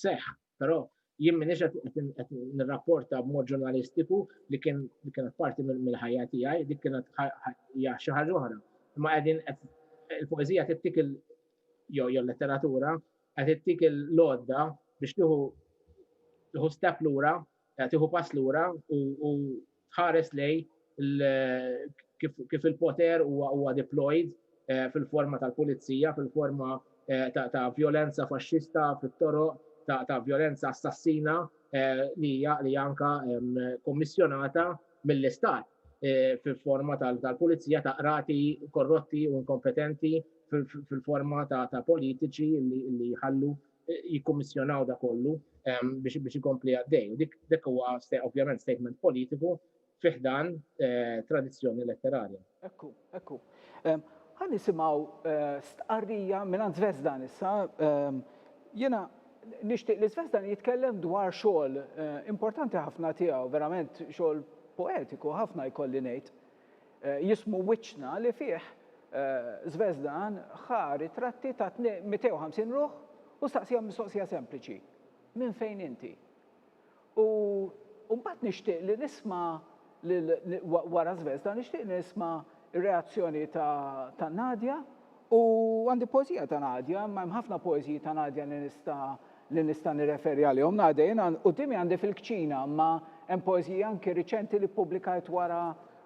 Speaker 5: seħħ, però jien minix qed nirrapporta b'mod ġurnalistiku li kien li kienet parti mill-ħajja tiegħi, dik kienet hija xi ħaġa oħra. Imma qegħdin il-poeżija tittik il jew jew letteratura qed tittik il-lodda biex tieħu tieħu step lura eh, tieħu pass lura u tħares lej kif il-poter huwa deployed eh, fil-forma tal-pulizija, fil-forma eh, ta' violenza faxxista fit-toro, ta' violenza assassina li hija anka kommissjonata mill-istat fil-forma tal-pulizija ta' qrati korrotti u inkompetenti fil-forma ta' politiċi li jħallu jikkummissjonaw da kollu biex ikompli għaddej. U dik huwa ovvjament statement politiku fih dan tradizzjoni letterarja. Ekku, ekku.
Speaker 1: Ħa nisimgħu stqarrija mingħand Zvezdan issa. Jiena nixtieq li Zvezdan jitkellem dwar xogħol importanti ħafna tiegħu, verament xogħol poetiku ħafna jkolli ngħid. Jismu Wiċċna li fih Zvezdan ħa ritratti ta' 250 ruħ u staqsihom mistoqsija sempliċi, Minn fejn inti? U u mbagħad nixtieq li nisma' lil wara Zvezda nixtieq li nisma' r-reazzjoni ta' Nadia U għandi poeżija ta' Nadia, imma hemm ħafna poeżiji ta' Nadia li nista' li nista' nirreferi għalihom. Nadia, jien għan quddiemi għandi fil-kċina, imma hemm poeżiji anki riċenti li ppubblikajt wara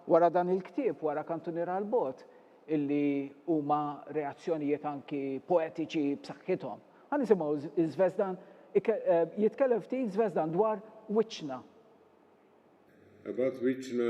Speaker 1: wara dan il-ktieb, wara Kantuniera għall-Bogħod, illi huma reazzjonijiet anki poetiċi b'saħħithom. Ħa nisimgħu Żvezdan ike jitkellem ftit Żvezdan dwar wiċċna.
Speaker 2: Ab'għad wiċċna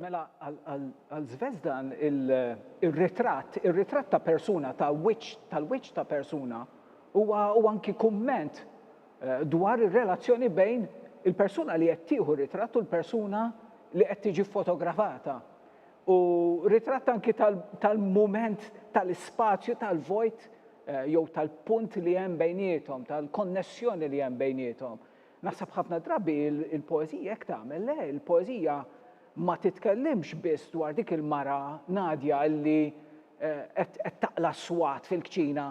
Speaker 1: Mela għal Zvezdan ir-ritratt, ir-ritratt ta' persuna, ta' wiċċ, tal-wiċċ ta' persuna huwa huwa anki kumment dwar ir-relazzjoni bejn il-persuna li qed tieħu r-ritratt u l-persuna li qed tiġi ffotografata. U ritratt anki tal-mument tal-ispazju tal-vojt jew tal-punt li hemm bejniethom, tal-konnessjoni li hemm bejniethom. Naħseb ħafna drabi il-poeżija hekk tagħmel, le, il-poeżija ma titkellimx biss dwar dik il-mara Nadja li qed taqla' s-swat fil-kċina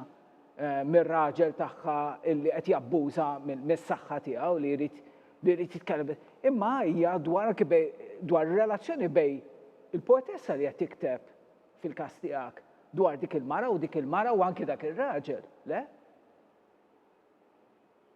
Speaker 1: mir-raġel tagħha li qed jabbuża mis-saħħa tiegħu li jrid li jrid jitkellem biss, imma hija dwar anki bej dwar ir-relazzjoni bej il-poetessa li qed tikteb fil-każ tiegħek dwar dik il-mara u dik il-mara u anki dak ir-raġel, le?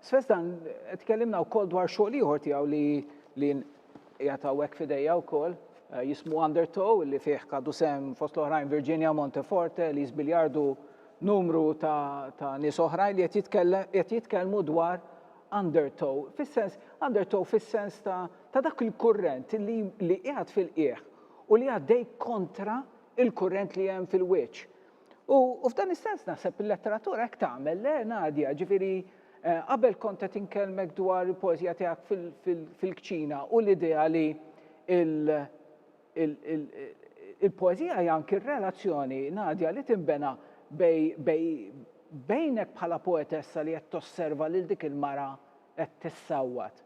Speaker 1: Sfest dan tkellimna wkoll dwar xogħol ieħor tiegħu li li qiegħed hawnhekk f'idejja wkoll eh, jismu Undertow li fih kadu sem fost l-oħrajn Virginia Monteforte, Liz Biljardu, numru ta', ta nies oħrajn li qed jitkellmu dwar undertow, fis-sens undertow fis-sens ta', ta dak il-kurrent li li qiegħed fil-qiegħ u li għaddej kontra il-kurrent li hemm fil-wiċċ. U f'dan is-sens naħseb il-letteratura hekk tagħmel, le Nadja, ġifieri eh, qabel kont qed inkellmek dwar il-poeżija tiegħek fil-kċina u l-idea li il-poeżija hija anki r-relazzjoni Nadja li tinbena bejnek bħala poetessa li qed tosserva lil dik il-mara qed tissawwat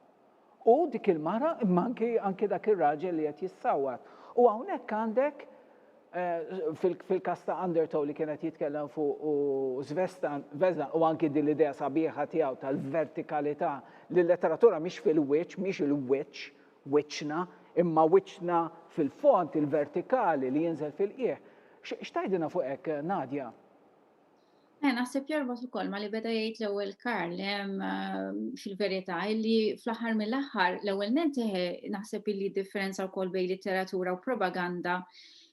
Speaker 1: U dik il-mara, imma anki, anki dak ir-raġel li qed jissawwat. U hawnhekk għandek fil-każ ta' Undertow li kien qed jitkellem fuq u Svestan, Vesdan u anki din l-idea sabiħa tiegħu tal-vertikalità li l-letteratura mhix fil-wiċċ, mhix il-wiċċ, wiċċna, imma wiċċna fil-fond, il-vertikali li jinżel fil-qiegħ. X'tgħidilna fuq hekk, Nadia? Eh,
Speaker 4: naħseb jorbot ukoll ma li beda jgħid l-ewwel Karl ehm, fil-verità illi fl-aħħar mill-aħħar l-ewwel nenteħ eh, naħseb illi differenza wkoll bejn litteratura u propaganda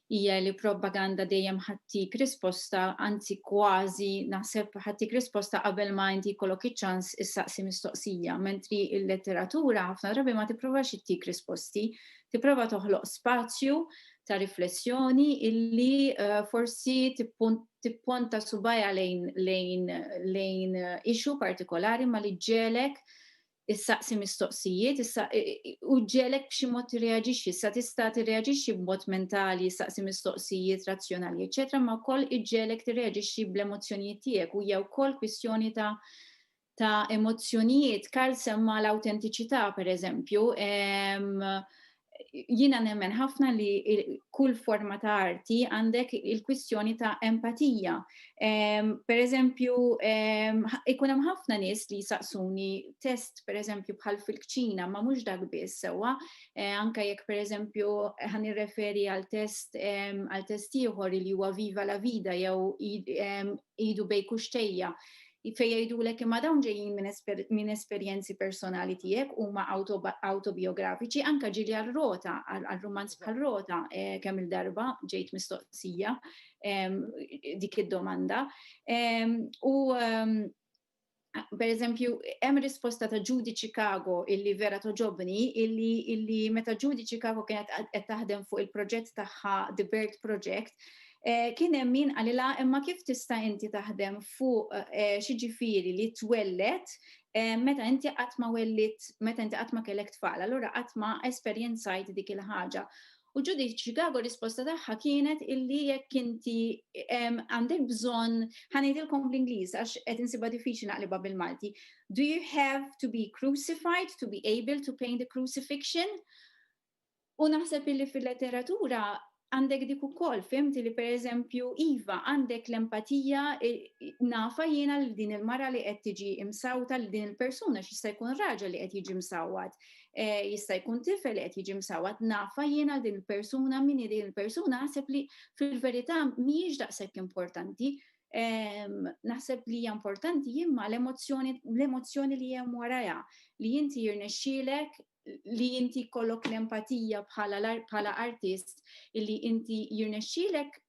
Speaker 4: hija li propaganda dejjem ħattik risposta, anzi kważi naħseb ħattik risposta qabel ma inti jkollok iċ-ċans issaqsi mistoqsija, mentri il-letteratura ħafna drabi ma tipprovax ittik risposti, tipprova toħloq spazju ta' riflessjoni illi eh, forsi tippunt tipponta subajha lejn lejn lejn issue partikolari ma li ġġelek issaqsi mistoqsijiet, u ġġelek b'xi mod tirreaġixxi, sa tista' tirreaġixxi b'mod mentali, issaqsi mistoqsijiet razzjonali, eċetera, ma wkoll iġġelek tirreaġixxi bl-emozzjonijiet tiegħek u hija wkoll kwistjoni ta' ta' emozzjonijiet, Karl semma l-awtentiċità pereżempju, jiena nemmen ħafna li kull forma ta' arti għandek il-kwistjoni ta' empatija. Per eżempju, ikun hemm ħafna nies li jsaqsuni test per eżempju bħal fil-kċina, ma mhux dak biss sewwa, e, anke jekk per eżempju ħan irreferi għal test għal test ieħor li huwa Viva la Vida jew idu bej kuxtejja. fejn jgħidulek imma dawn ġejjin minn esperjenzi personali tiegħek huma awtobiografiċi anke ġieli għal rota, għal rumanz bħal rota eh, kemm il-darba ġejt mistoqsija ehm, dik id-domanda. Ehm, u ehm, per eżempju, hemm risposta ta' Judy Chicago illi vera toġobni, illi, illi meta Judy Chicago kienet qed taħdem fuq il-proġett tagħha The Bird Project, Kien hemm min qalilha imma kif tista' inti taħdem fuq xiġifieri li twelled meta inti qatt ma wellidt, meta inti qatt ma kellek tfal, allura qatt ma esperjenzajt dik il-ħaġa. U Judith Chicago risposta tagħha kienet illi jekk inti għandek bżonn, ħa ngħidilkom bl-Ingliż għax qed insibha diffiċli naqlibha bil-Malti, do you have to be crucified to be able to paint the crucifixion? U naħseb illi fil-letteratura għandek dik ukoll, fimti li pereżempju iva għandek l-empatija nafa jiena li din il-mara li qed tiġi imsawta li din il-persuna x'jista' jkun raġel li qed jiġi msawwat, e, jista' jkun tifel li qed jiġi msawwat, nafa jiena din il-persuna min din il-persuna naħseb li fil-verità mhijiex daqshekk importanti. Ehm, naħseb li hija importanti jimma l-emozzjoni l-emozzjoni li hemm warajha li inti jirnexxielek li inti kollok l-empatija bħala artist illi inti jirnexxilek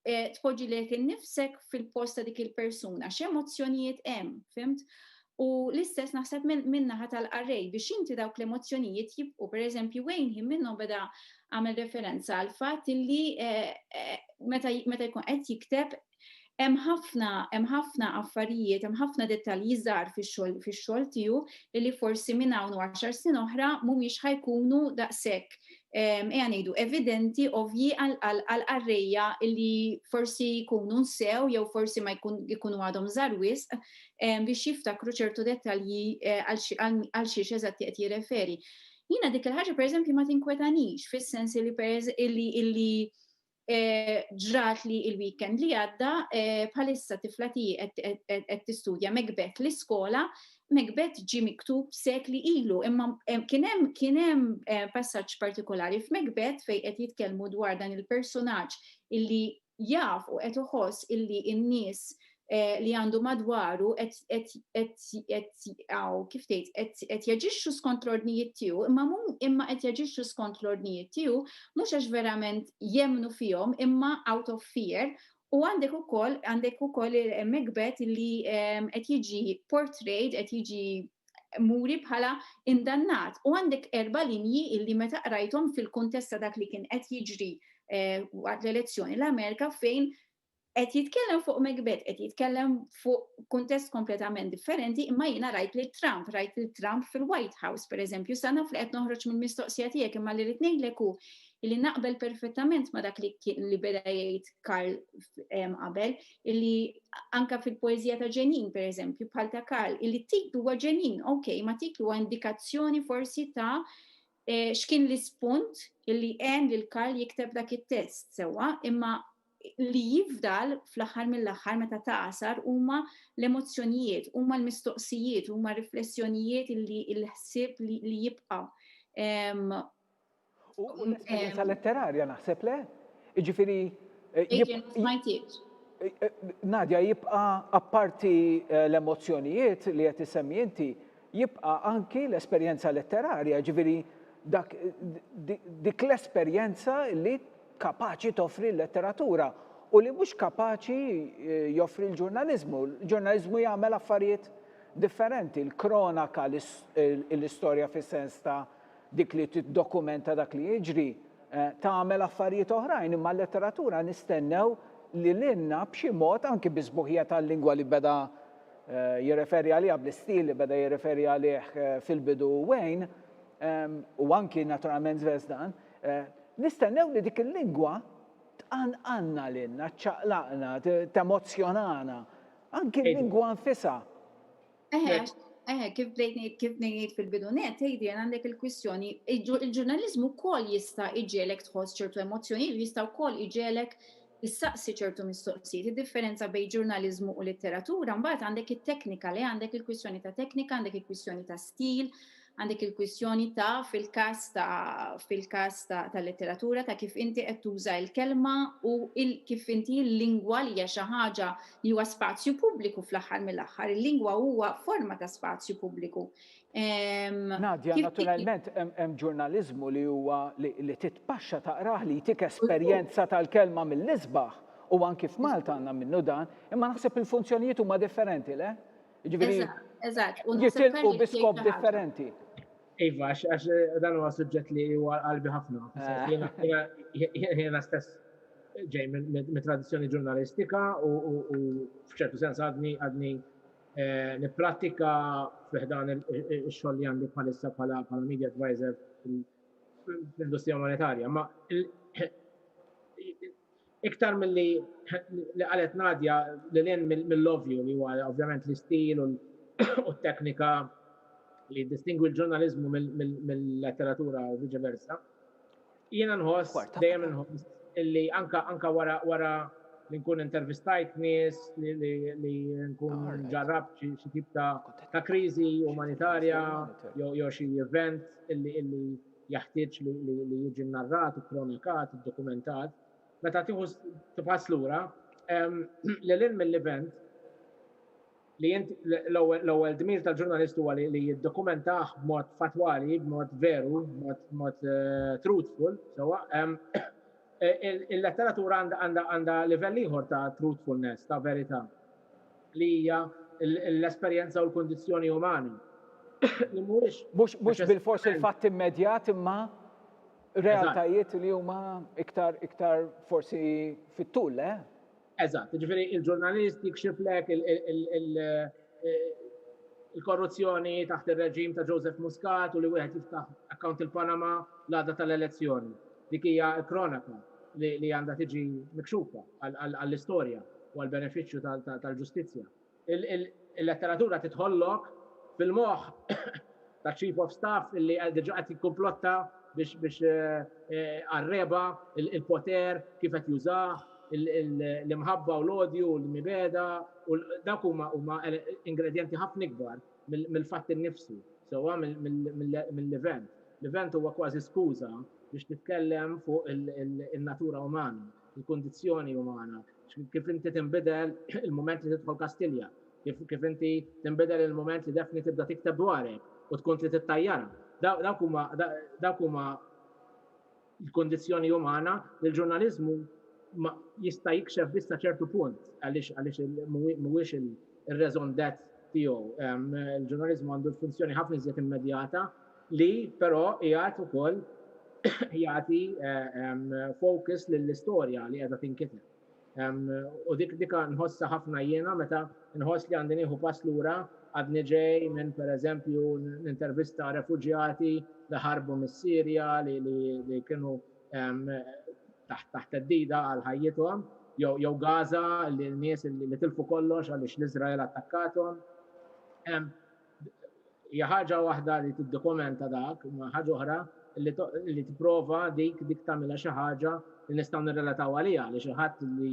Speaker 4: eh, tpoġġi lek innifsek fil-post ta' dik il-persuna, x'emozzjonijiet hemm, fimt? U l-istess naħseb minnaħa tal-qarrej biex inti dawk l-emozzjonijiet jibqu, per eżempju, Wayne him minnhom beda għamel referenza għal fatt illi eh, eh, meta jkun qed jikteb Hemm ħafna, hemm ħafna affarijiet, hemm ħafna dettalji żgħar fix-xogħol fix-xogħol tiegħu li forsi minn hawn u għaxar snin oħra mhumiex ħajkunu daqshekk ejja ngħidu evidenti ovvji għal qarrejja li forsi jkunu nsew jew forsi ma jkunu għadhom żgħar wisq biex jiftakru ċertu dettalji għal xiex eżatti qed jirreferi. Jiena dik il-ħaġa pereżempju ma tinkwetanix fis-sens li illi ġrat li il-weekend li għadda bħalissa tifla tiegħi qed tistudja Macbeth l-iskola, Macbeth ġie miktub sekli ilu, imma kien hemm kien hemm passaġġ partikolari f'Macbeth fejn qed jitkellmu dwar dan il-personaġġ illi jaf u qed iħoss illi n-nies Eh, li għandu madwaru kif tgħid qed jaġixxu skont l-ordnijiet tiegħu, imma imma qed jaġixxu skont l-ordnijiet tiegħu mhux għax verament jemnu fihom imma out of fear U għandek u koll, għandek u koll il-megbet li ehm, qed jiġi portrayed, qed jiġi muri bħala indannat. U għandek erba linji illi meta qrajthom fil-kontesta dak li kien qed jiġri eh, waqt l-elezzjoni l-Amerika fejn Qed jitkellem fuq Macbeth, qed jitkellem fuq kuntest kompletament differenti, imma jiena rajt lil Trump, rajt lil Trump fil-White House, per eżempju, sa naf li qed noħroġ mill-mistoqsija tiegħek, imma li rrid ngħidlek hu li naqbel perfettament ma dak li li beda jgħid Karl qabel, illi anka fil-poezija ta' ġenin, per eżempju, bħal ta' Karl, illi titlu huwa ġenin, ok, ma titlu huwa indikazzjoni forsi ta' eh, x'kien l-ispunt illi għen lil Karl jikteb dak it-test, sewwa, imma Li jifdal fl-aħħar mill-aħħar meta tagħsar huma l-emozzjonijiet, huma l-mistoqsijiet, huma r-riflessjonijiet li l-ħsieb li jibqa'.
Speaker 1: U l-esperjenza letterarja naħseb le? Jiġifieri. Nadja jibqa' apparti l-emozzjonijiet li qed issemmi inti, Jibqa' anki l-esperjenza letterarja, jiġifieri dak, dik l-esperjenza li kapaċi toffri l-letteratura u li mhux kapaċi joffri l-ġurnaliżmu. Il-ġurnaliżmu jagħmel affarijiet differenti, l-kronaka, l-istorja fis-sens ta' dik li tiddokumenta dak li jiġri, tagħmel affarijiet oħrajn, imma l-letteratura nistennew li lilna b'xi mod, anki bis-sbuħija tal-lingwa li beda jirreferi għaliha bl-istil li beda jirreferi għalih fil-bidu Wayne, u anki naturalment Zvezdan, nistennew li dik il-lingwa tqanqalna lilna, ċċaqlaqna, temozzjonana, anki l-lingwa nfisha. Eħe, eħe,
Speaker 4: kif bdejt ngħid, kif bdejt ngħid fil-bidu nett, Adrian, għandek il-kwistjoni, il-ġurnaliżmu wkoll jista' jġegħlek tħoss ċertu emozzjonijiet u jista' wkoll jġegħlek issaqsi ċertu mistoqsijiet. Id-differenza bejn ġurnaliżmu u litteratura, mbagħad għandek it-teknika, le għandek il-kwistjoni ta' teknika, għandek il-kwistjoni ta' stil, għandek il-kwistjoni ta' fil-każ ta' fil-każ ta' tal-litteratura ta' kif inti qed tuża l-kelma u il kif inti l-lingwa li hija xi ħaġa li huwa spazju pubbliku fl-aħħar mill-aħħar. Il-lingwa huwa forma ta' spazju pubbliku.
Speaker 1: Nadja, naturalment hemm ġurnaliżmu li huwa li titpaxxa taqrah li jtik esperjenza tal-kelma mill-isbaħ u anki f'Malta għandna minnu dan, imma naħseb il-funzjonijiet huma differenti, le? Ġifieri. Eżatt,
Speaker 4: u jitilqu bi
Speaker 1: skop differenti. Iva,
Speaker 5: għax dan huwa suġġett li huwa qalbi ħafna. Jiena stess ġej mit-tradizzjoni ġurnalistika u f'ċertu sens għadni għadni Eh, Nipprattika fiħdan il-xogħol li għandi bħalissa bħala media advisor fl-industrija monetarja, ma iktar mill-li li qalet Nadja li l-en mill-ovju li huwa ovvjament l-istil u t-teknika li distingwi l-ġurnalizmu mill-letteratura u vice versa. Jiena nħoss, dejjem inħoss, illi anka anka wara wara li nkun intervistajt nies li li li nkun ġarrabt xi xi tip ta' ta' kriżi umanitarja jew jew xi event illi illi jaħtieġ li li li jiġi narrat, ikkronikat, iddokumentat, meta tieħu tibħas lura, lil hinn mill-event, li int l-ewwel dmir tal-ġurnalist huwa li jiddokumentah b'mod fattwali, b'mod veru, b'mod eh, truthful, sewwa. Eh, il-letteratura għandha livell ieħor ta' truthfulness, ta' verità, li hija l-esperjenza u l-kundizzjoni umani. Li mhuwiex. Mhux
Speaker 1: bil-fors il-fatt immedjat imma realtajiet li huma iktar iktar forsi fit-tul, le? Eh? Eżatt,
Speaker 5: ġifieri il-ġurnalist jikxiflek il-korruzzjoni taħt ir-reġim ta' Joseph Muscat u li wieħed jiftaħ account il-Panama l-għada tal-elezzjoni. Dik hija l-kronaka li għandha tiġi mikxufa għall-istorja u għall-benefiċċju tal-ġustizzja. Il-letteratura tidħollok fil-moħħ taċ-Chief of Staff li diġà qed jikkumplotta biex għar-regħba, il-poter, kif qed jużah, l-imħabba u l-odju u l-mibegħda, u dawk huma ingredjenti ħafna ikbar mill-fatt innifsu, sewwa mill-event. L-event huwa kważi skuża biex titkellem fuq in-natura umana. il-kundizzjoni umana, kif inti tinbidel il-mument li tidħol Kastilja, kif kif inti tinbidel il-mument li Daphne tibda tikteb dwarek u tkun trid ittajjarha. Dawk huma dawk huma l-kundizzjoni umana li l-ġurnaliżmu jista' jikxef biss sa ċertu punt għaliex għaliex mhuwiex ir-raison d'être tiegħu. Il-ġurnaliżmu għandu funzjoni ħafna iżjed immedjata li però qiegħed ukoll jagħti focus lill-istorja li qiegħda tinkiteb. U dik dik nħossha ħafna jiena meta nħoss li għandi nieħu pass lura, għadni ġej minn pereżempju nintervista refuġjati li ħarbu mis-Sirja li kienu taħt taħt theddida għal ħajjithom, jew jew Gaza li nies li tilfu kollox għaliex l-Iżrael attakkatuhom. hija ħaġa waħda li tiddokumenta dak, imma ħaġa oħra li, li tipprova dik dik tagħmilha xi ħaġa li nistgħu nirrelataw għaliha li xi ħadd li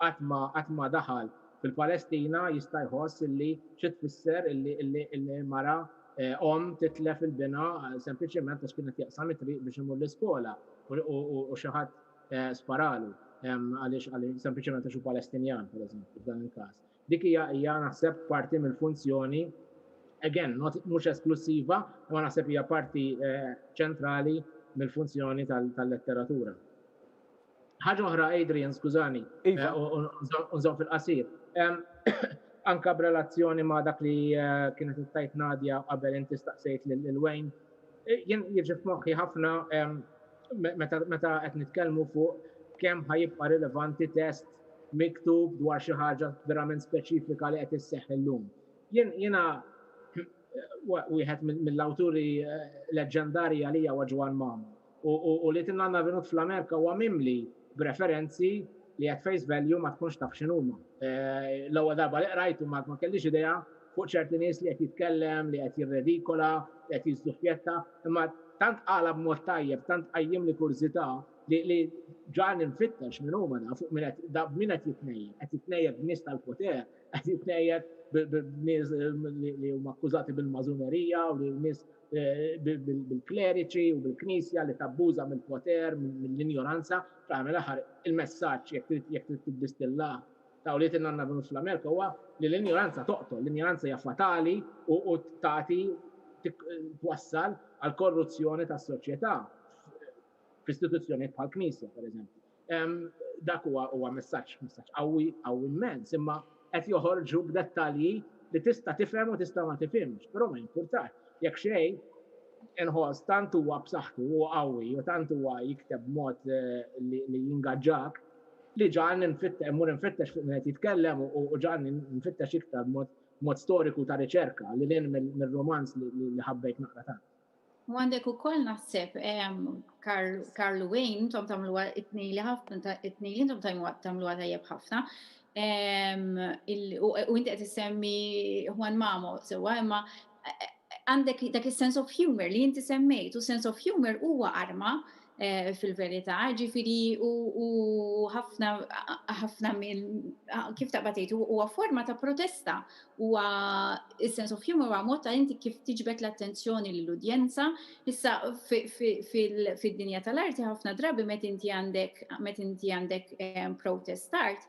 Speaker 5: qatt ma qatt ma daħal fil-Palestina jista' jħoss illi xi tfisser illi illi illi mara eh, om titlef il-bina eh, sempliċement għax kienet jaqsam it-triq biex imur l-iskola u xi ħadd eh, sparalu għaliex għaliex sempliċement għax hu Palestinjan, pereżempju, f'dan il-każ. Dik hija hija naħseb parti mill-funzjoni, again, not, mhux esklussiva, imma naħseb hija parti ċentrali mill-funzjoni tal-letteratura. Ħaġa oħra, Adrian, skużani, iva. u nżomm fil-qasir. Anka b'relazzjoni ma' dak li kienet ittajt Nadja qabel inti staqsejt lil Wayne, jien jiġi f'moħħi ħafna Meta qed nitkellmu fuq kemm ħa jibqa' rilevanti test miktub dwar xi ħaġa verament speċifika li qed isseħħ illum. Jiena wieħed mill-awturi leġġendarji għalija huwa Ġwann Mamo u li Tinnanna Vinut fl-Amerika huwa mimli b'referenzi li at face value ma tkunx taf x'inhuma. L-ewwel darba li qrajthom ma kellix idea fuq ċerti nies li qed jitkellem, li qed jirredikola, li qed jiżżuffjetta, imma tant qalha b'mod tajjeb, tant qajjimli kurżità li li ġagħalni nfittex min huma da, fuq min qed da b'min qed jitnejjed, qed jitnejjed b'nies tal-poter, qed jitnejjed b'nies li huma akkużati bil-mażunerija u li nies bil-kleriċi u bil-Knisja li tabbuża mill-poter, mill-injoranza, fl-aħħar mill-aħħar il-messaġġ jekk trid jekk trid tiddistillah Tawliet li għandna b'nus fl-Amerika huwa li l-injoranza toqtol, l-injoranza hija fatali u tagħti twassal għall-korruzzjoni tas-soċjetà f'istituzzjonijiet bħall-Knisja, pereżempju. Dak huwa huwa messaġġ, messaġġ qawwi, qawwi mmens, imma qed joħorġu b'dettalji li tista' tifhem u tista' ma tifhimx, però ma jimpurtax. Jekk xejn, inħoss tant huwa b'saħħtu u qawwi u tant huwa jikteb b'mod li jingaġġak, li ġan nfittex, mur nfittex fuq minn qed jitkellem u ġan nfittex iktar mod storiku ta' riċerka li lin mir-romanz li ħabbejt naqra tant. U għandek
Speaker 4: ukoll naħseb Karl Wayne, intom tagħmluha it-tnejn li ħafna, it-tnejn li intom tagħmluha tajjeb ħafna. U inti qed issemmi Juan Mamo sewwa, imma għandek dak is-sense of humour li inti semmejt, u sense of humour huwa arma fil-verità, ġifieri u ħafna ħafna minn kif taqbad tgħid huwa forma ta' protesta, huwa is-sense of humour huwa mod ta' inti kif tiġbed l-attenzjoni lill-udjenza. Issa fid-dinja tal-arti ħafna drabi meta inti għandek meta inti għandek protest art,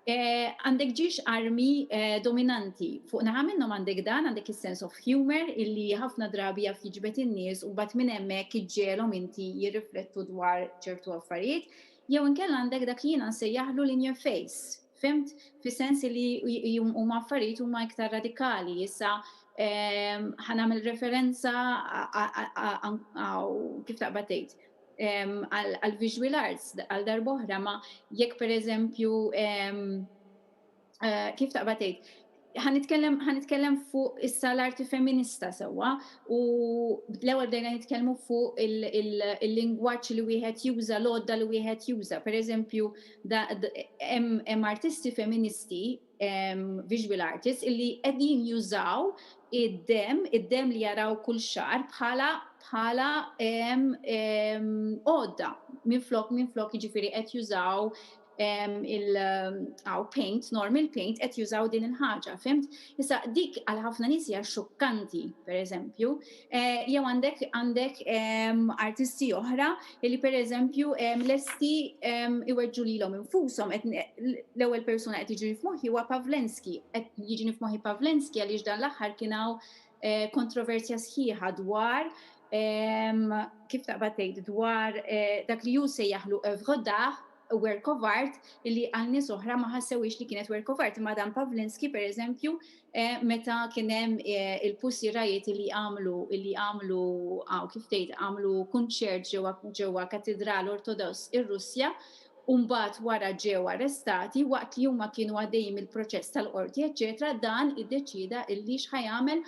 Speaker 4: Għandek ġiex armi dominanti. Fuq naħa minnhom għandek dan, għandek is-sense of humour illi ħafna drabi jaf jiġbed in-nies u mbagħad minn hemmhekk iġġegħelhom inti jirriflettu dwar ċertu affarijiet, jew inkella għandek dak li jiena nsejjaħlu l-in your face, fhimt? Fis-sens illi huma affarijiet huma iktar radikali. Issa ħa nagħmel referenza kif taqbad tgħid? għall-visual arts għal darb'oħra, ma jekk pereżempju kif taqbad tgħid, ħa nitkellem ħa nitkellem fuq issa l-arti feminista sewwa u l-ewwel bdejna nitkellmu fuq il-lingwaġġ li wieħed juża, l-għodda li wieħed juża. Pereżempju, hemm artisti feministi, visual artists, illi qegħdin jużaw id-demm, id-demm li jaraw kull xahar bħala bħala għodda minflok minflok jiġifieri qed jużaw il aw paint, normal paint qed jużaw din il-ħaġa, fimt? Issa dik għal ħafna nies hija xokkanti, pereżempju, Jew għandek għandek artisti oħra li pereżempju lesti iweġġu lilhom infushom l-ewwel persuna qed jiġri f'moħħi huwa Pavlenski. Qed jiġini f'moħħi Pavlenski għaliex dan l-aħħar kien hawn kontroversja sħiħa dwar kif taqbad tgħid dwar dak li hu sejjaħlu œuvre d'art, work of art, li għal nies oħra ma ħassewhiex li kienet work of art imma dan Pavlenski pereżempju meta kien hemm il-pussierajiet li għamlu li għamlu kif tgħid għamlu kunċert ġewwa ġewwa Katidral Ortodoss ir-Russja u mbagħad wara ġew arrestati waqt li huma kienu għaddejjin mill-proċess tal-qorti eċċetera dan iddeċieda illi x'ħa jagħmel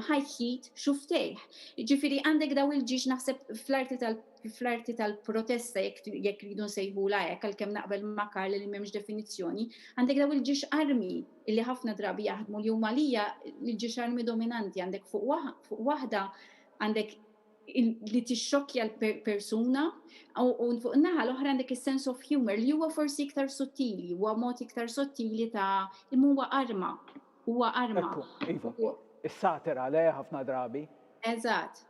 Speaker 4: ħa jħit xuftejh. Jiġifieri għandek dawn il-ġiex naħseb fl-arti tal fl-arti tal-protesta jekk jekk rridu nsejħulha hekk għalkemm naqbel ma' Karl li m'hemmx definizzjoni għandek dawn il-ġiex armi illi ħafna drabi jaħdmu li huma għalija l-ġixarmi dominanti għandek fuq waħda għandek li tixxokkja l-persuna u fuq naħa l-oħra għandek is-sense of humor li huwa forsi iktar sottili, huwa mod iktar sottili ta' imma huwa arma. Huwa arma. Iva.
Speaker 1: Is-satira le ħafna drabi. Eżatt.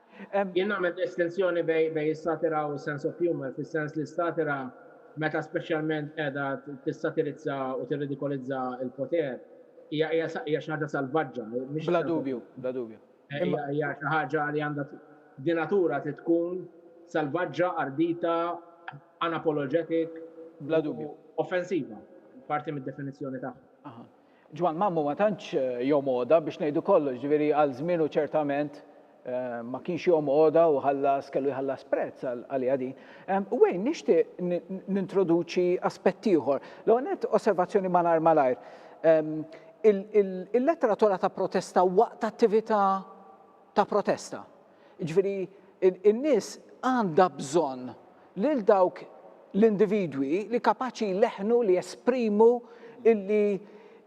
Speaker 4: Jien nagħmel
Speaker 5: distinzjoni bejn bejn is-satira u s-sense of humour, fis-sens li s-satira meta speċjalment qiegħda tissatirizza u tirridikolizza l-poter hija hija sa hija xi ħaġa salvaġġa, mhix Bla dubju,
Speaker 1: bla dubju. eh, Imma hija
Speaker 5: hija xi ħaġa li għandha t- di natura trid tkun salvaġġa, ardita, unapologetic Bla u
Speaker 1: dubju. offensiva,
Speaker 5: parti mid-definizzjoni tagħha. Aha. Ġwann Mammu ma
Speaker 1: tantx jom għoda biex ngħidu kollox, ġifieri għal żmienu ċertament ma kienx jom għoda u ħallas, kellu jħallas prezz għaliha din. Wayne, nixtieq nintroduċi aspett ieħor. L-ewwel nett osservazzjoni malajr malajr. Il-letteratura ta' protesta waqt attività ta' protesta. Jiġifieri n-nies għandha bżonn lil dawk l-individwi li kapaċi jleħħnu li jesprimu illi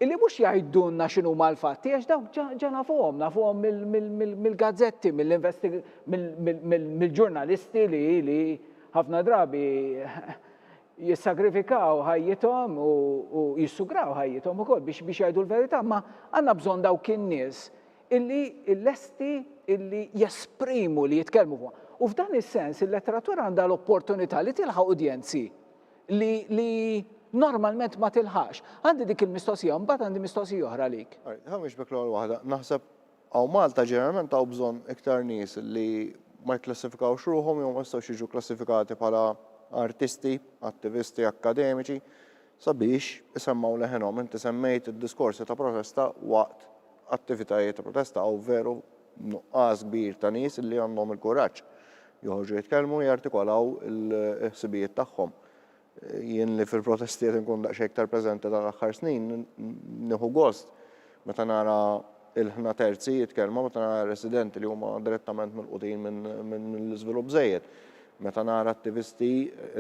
Speaker 1: illi mhux jgħidulna x'inhuma l-fatti għax dawk ġa ġa nafuhom, nafuhom mill-gazzetti, mill-ġurnalisti li li ħafna drabi jissagrifikaw ħajjithom u jissugraw ħajjithom ukoll biex biex jgħidu l-verità, ma għandna bżonn dawk in-nies illi lesti illi jesprimu li jitkellmu fuq. U f'dan is-sens il-letteratura għandha l-opportunità li tilħaq udjenzi li, li normalment ma tilħax. Għandi dik il-mistoqsija, mbagħad għandi mistoqsija oħra lik. Ħamiex bek l-ewwel waħda,
Speaker 3: naħseb hawn Malta ġeneralment hawn bżonn iktar nies li ma jikklassifikawx ruħhom jew ma jistgħux jiġu klassifikati bħala artisti, attivisti akkademiċi, sabiex isemmgħu leħinhom. Inti semmejt id-diskorsi ta' protesta waqt attivitajiet ta' protesta, hawn veru nuqqas kbir ta' nies li għandhom il-kuraġġ joħorġu jitkellmu u jartikolaw il-ħsibijiet tagħhom. Jien li fil-protesti qed inkun daqsxejn iktar preżenti dan l-aħħar snin, nieħu gost Meta nara ilħna terzi jitkellmu, meta nara residenti li huma direttament milqutin minn l-iżvilupp żejjed, meta nara attivisti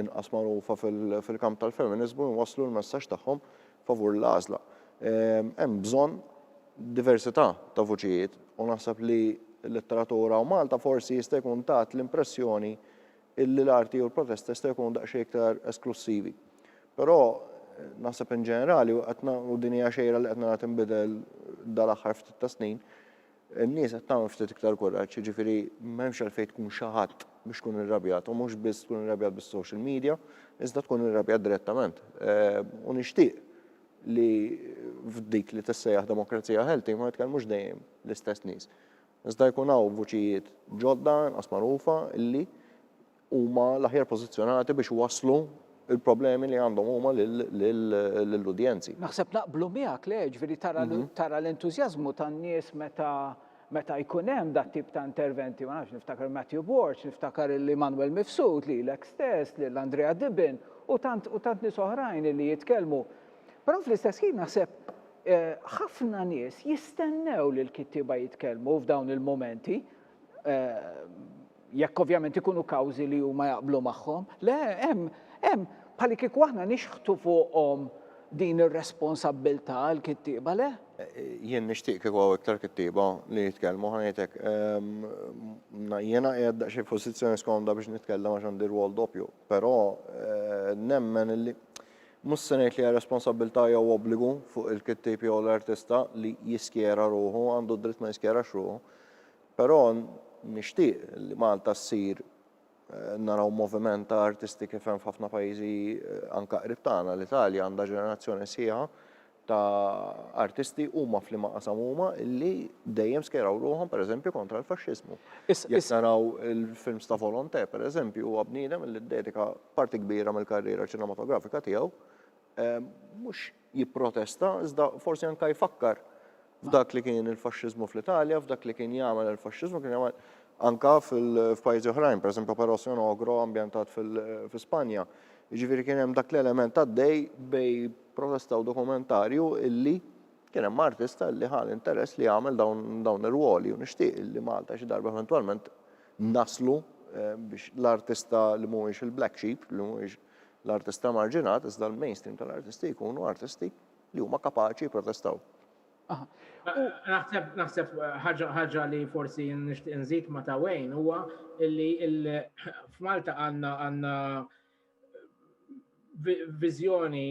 Speaker 3: inqas magħrufa fil-kamp tal-feminiżmu jwasslu l-messaġġ tagħhom favur l-għażla. Hemm bżonn diversità ta' vuċijiet u naħseb li l-letteratura u Malta forsi jista' jkun tat l-impressjoni illi l-arti u l-protesta jistgħu jkunu daqsxejn iktar esklussivi. Però naħseb in ġenerali u qed u din hija xejra li qed nara tinbidel dal-aħħar ftit ta' snin, in-nies qed tagħmel ftit iktar kuraġġ, jiġifieri m'hemmx għalfejn tkun xi ħadd biex tkun irrabjat u mhux biss tkun irrabjat bis-social media, iżda tkun irrabjat direttament. Ehm, u nixtieq li f'dik li tissejjaħ demokrazija healthy ma jitkellmux dejjem l-istess nies. Iżda jkun hawn vuċijiet ġodda inqas magħrufa li huma l-aħjar pożizzjonati biex iwasslu l-problemi li għandhom huma lill-udjenzi. Naħseb naqblu
Speaker 1: miegħek, le, ġifieri tara tara l-entużjażmu tan-nies meta meta jkun hemm dat-tip ta' interventi, ma nafx, niftakar Matthew Borg, niftakar lil Emmanuel Mifsud, lilek stess, lil Andrea Dibben u tant u tant nies oħrajn li jitkellmu Però fl-istess ħin naħseb eh, ħafna nies jistennew li l-kittieba jitkellmu f'dawn il-momenti eh, jekk ovvjament ikunu kawżi li huma jaqblu magħhom. Le, hemm, hemm, bħalli kieku aħna nixħtu fuqhom din ir-responsabbiltà għal kittieba le? Jien nixtieq
Speaker 3: kieku għaw iktar kittieba li jitkellmu ħajtek. Ehm, jiena qiegħed xi pożizzjoni skomda biex nitkellem għax għandi rwol doppju, però eh, nemmen li Mhux se ngħid li hija responsabbiltà jew obbligu fuq il-kittieb jew l-artista li jiskjera ruħu, għandu d-dritt ma jiskjerax ruħu. Però nixtieq li Malta ssir naraw moviment ta' artisti kif hemm f'ħafna pajjiżi anke qrib tagħna, l-Italja għandha ġenerazzjoni sħiħa ta' artisti huma f'liema qasam huma illi dejjem skeraw ruħhom pereżempju kontra l-faxxiżmu. Jekk naraw il-films ta' Volonté pereżempju huwa bniedem illi ddedika parti kbira mill-karriera ċinematografika tiegħu mhux jipprotesta iżda forsi anke jfakkar f'dak li kien il-faxxiżmu fl-Italja, f'dak li kien jagħmel il-faxxiżmu, kien jagħmel anka f'pajjiżi oħrajn, pereżempju Parosion Ogro ambjentat fi Spanja. Jiġifieri kien hemm dak l-element għaddej bej protesta u dokumentarju illi kien hemm artista illi ħa l-interess li jagħmel dawn ir-rwoli u nixtieq illi Malta xi darba eventwalment naslu eh, biex l-artista li mhuwiex il-black sheep, li mhuwiex l-artista marġinat, iżda l-mainstream tal-artisti jkunu artisti li huma kapaċi jipprotestaw. Naħseb
Speaker 5: naħseb ħaġa li forsi nixtieq nżid ma' ta' Wayne huwa li f'Malta għandna għandna viżjoni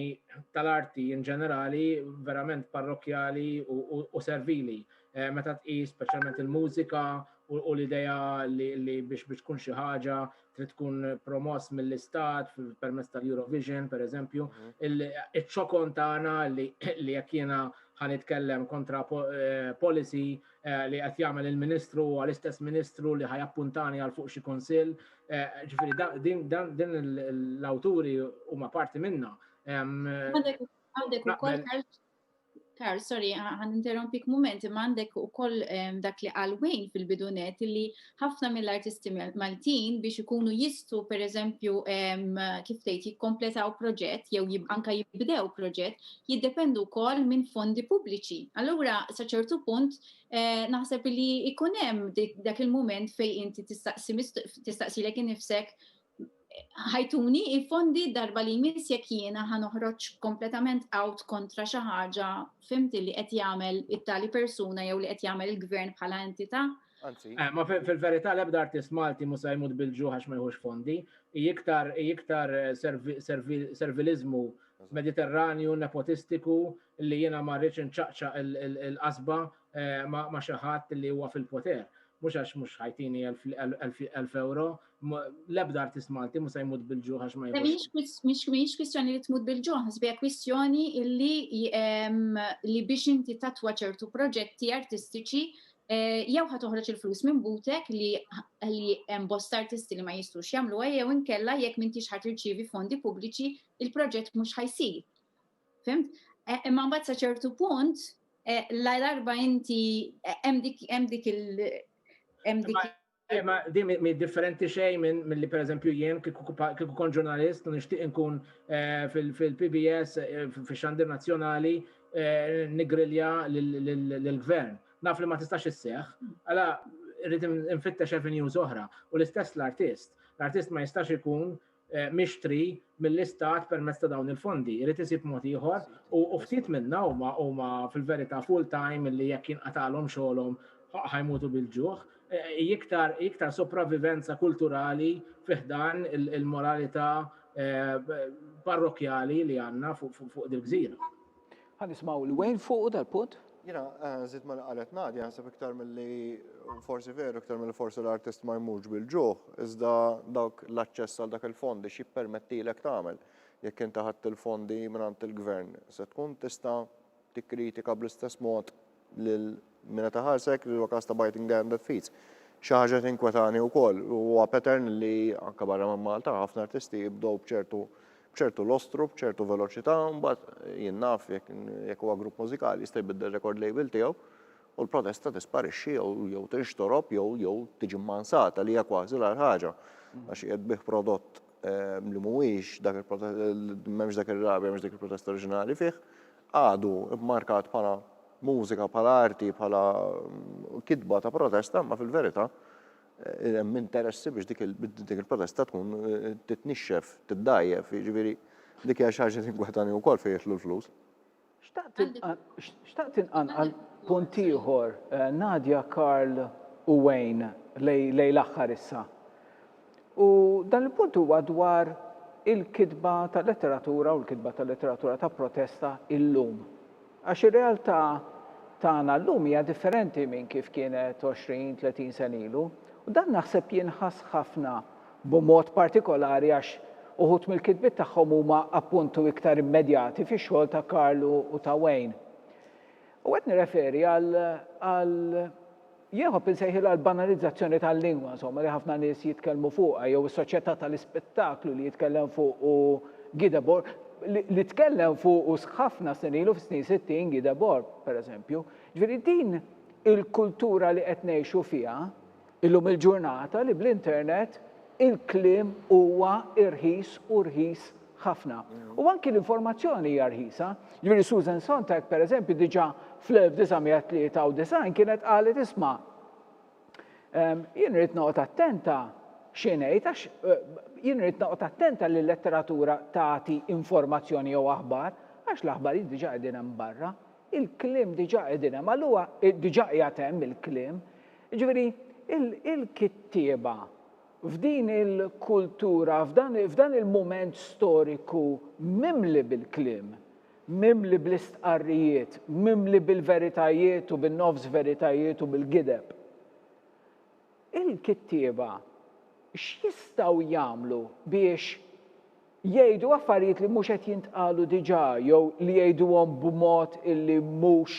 Speaker 5: tal-arti in ġenerali verament parrokjali u servili. Eh, meta tqis speċjalment il-mużika u l-idea li biex biex tkun xi ħaġa trid tkun promoss mill-istat permezz tal-Eurovision, per eżempju, mhm. il-ċokon tagħna li jekk jiena ħan itkellem kontra eh, policy eh, li qed jagħmel il-Ministru għal istess Ministru li ħajappuntani għal fuq xi kunsill. Eh, ġifieri din l-awturi huma parti minna. Għandek
Speaker 4: ukoll Karl, sorry, għan interrompik moment, imma għandek u koll dak li għalwejn fil-bidunet li ħafna mill-artisti Maltin biex ikunu jistu, per eżempju, kif tgħid jikkompletaw proġett jew anka jibdew proġett, jiddependu koll minn fondi pubbliċi. Allura, sa ċertu punt, eh, naħseb li ikunem dak il-moment fej inti tistaqsi lek nifsek ħajtuni il-fondi darba li jmiss jekk jiena ħa noħroġ kompletament out kontra xi ħaġa fimt li qed jagħmel it-tali persuna jew li qed jagħmel il-gvern bħala entità. Anzi. Eh, ma
Speaker 5: fil-verità l-ebda artist Malti mu se jmut bil-ġuħ għax ma jħux fondi, iktar iktar eh, servilizmu mediterranju, nepotistiku, li jiena ma rridx inċaqċa il-qasba eh, ma xi ħadd li huwa fil-poter mux għax mux ħajtini 1000 euro, L-ebda artist Malti mhux se jmut bil-ġuħ għax ma jibux. Mhix kwistjoni li
Speaker 4: tmut bil-ġuħ, ħsbija kwistjoni li biex inti tatwa ċertu proġetti artistiċi Eh, jew ħa toħroġ il-flus minn butek li li hemm bosta artisti li ma jistux jagħmluha jew inkella jekk m'intix ħadd irċievi fondi pubbliċi il-proġett mhux ħajsir. Fimt? Eh, imma mbagħad sa ċertu punt eh, la darba inti hemm dik hemm dik il hemm dik
Speaker 5: Eh, ma di mi differenti xej minn mill-li per eżempju jien kiku kon ġurnalist u nishtiq nkun eh, fil-PBS eh, fil-xandir nazjonali eh, nigrilja l-gvern. Naf li ma tistax isseħ, għala rrit nfittex avenues oħra u l-istess l-artist. L-artist ma jistax ikun mixtri mill-Istat permezz ta' dawn il-fondi. Irid isib mod ieħor u ftit minna huma huma fil-verità full time li jekk jinqatagħlhom xogħolhom ħajmutu bil-ġuħ. Iktar iktar sopravivenza kulturali fi ħdan il-moralità parrokkjali li għandna fuq dil-gżira. Ħa nismgħu
Speaker 1: lil Wayne fuqu dal-punt. Jiena nżid
Speaker 3: ma' li qalet Nadia, naħseb iktar milli forsi veru iktar milli forsi l-artist marmux bil-ġuħ, iżda dawk l-aċċess għal dak il-fondi x'jippermettilek tagħmel. Jekk inti ħadt il-fondi mingħand il-Gvern, se tkun tista' tikkritika bl-istess mod lil mingħata ta' ħarsa jekk huwa każ ta' biting the hand that feeds. Xi ħaġa tinkwetani wkoll huwa pattern li anke barra minn Malta ħafna artisti jibdew b'ċertu b'ċertu lostru, b'ċertu veloċità, mbagħad jien naf jekk huwa grupp mużikali jista' jbiddel record label tiegħu u l-protesta tisparixxi jew tinxtorob jew jew tiġi mmansata li hija kważi l-agħar ħaġa għax qiegħed bih prodott ehm, li mhuwiex dak il-protest, m'hemmx dak ir-rabja, m'hemmx dik il-protesta oriġinali fih, għadu mmarkat bħala mużika, bħala arti, bħala kitba ta' protesta, imma fil-verità hemm interessi biex dik il-protesta tkun titnixxef, tiddgħajjef, jiġifieri dik hija xi ħaġa li tinkwetani wkoll fejn jidħlu l-flus.
Speaker 1: Xtaqt inqanqal punt ieħor, Nadia, Karl u Wayne lejn l-aħħar issa. U dan il-punt huwa dwar il-kitba ta' letteratura u l-kitba ta' letteratura ta' protesta illum. Għax ir-realtà tagħna llum hija differenti minn kif kienet 20, 30 sena ilu. U dan naħseb jinħass ħafna b'mod partikolari għax uħud mill-kitbiet tagħhom huma appuntu iktar immedjati fix-xogħol ta' Karlu u ta' Wayne. U qed nirreferi għal Jieħob insejħilha l-banalizzazzjoni tal-lingwa, insomma, li ħafna nies jitkellmu fuqha, jew is-soċjetà tal-ispettaklu li jitkellem fuqu Guy Debord, li tkellem fuqu ħafna snin ilu, fis-snin sittin, Guy Debord, pereżempju. Ġifieri din il-kultura li qed ngħixu fiha illum il-ġurnata li bl-internet il-kliem huwa irħis u rħis ħafna. U anki l-informazzjoni hija rħisa. Jiġifieri Susan Sontag, pereżempju, diġà fl-1993 kienet qalet isma' ehm, jien rrid noqgħod attenta xi ngħid għax eh, jien rrid noqgħod attenta li l-letteratura tagħti informazzjoni jew aħbar għax l-aħbar diġà qegħdin hemm barra. Il-kliem diġà qegħdin hemm, allura eh, diġà qiegħed hemm il-kliem. Jiġifieri il-kittieba F'din il-kultura, f'dan il-mument storiku mimli bil-kliem, mimli bl-istqarrijiet, mimli bil-veritajiet u bin-nofs veritajiet u bil-gideb, il-kittieba x'jistgħu jagħmlu biex Jgħidu affarijiet li mhux qed jintqalu diġà jew li jgħiduhom b'mod illi mhux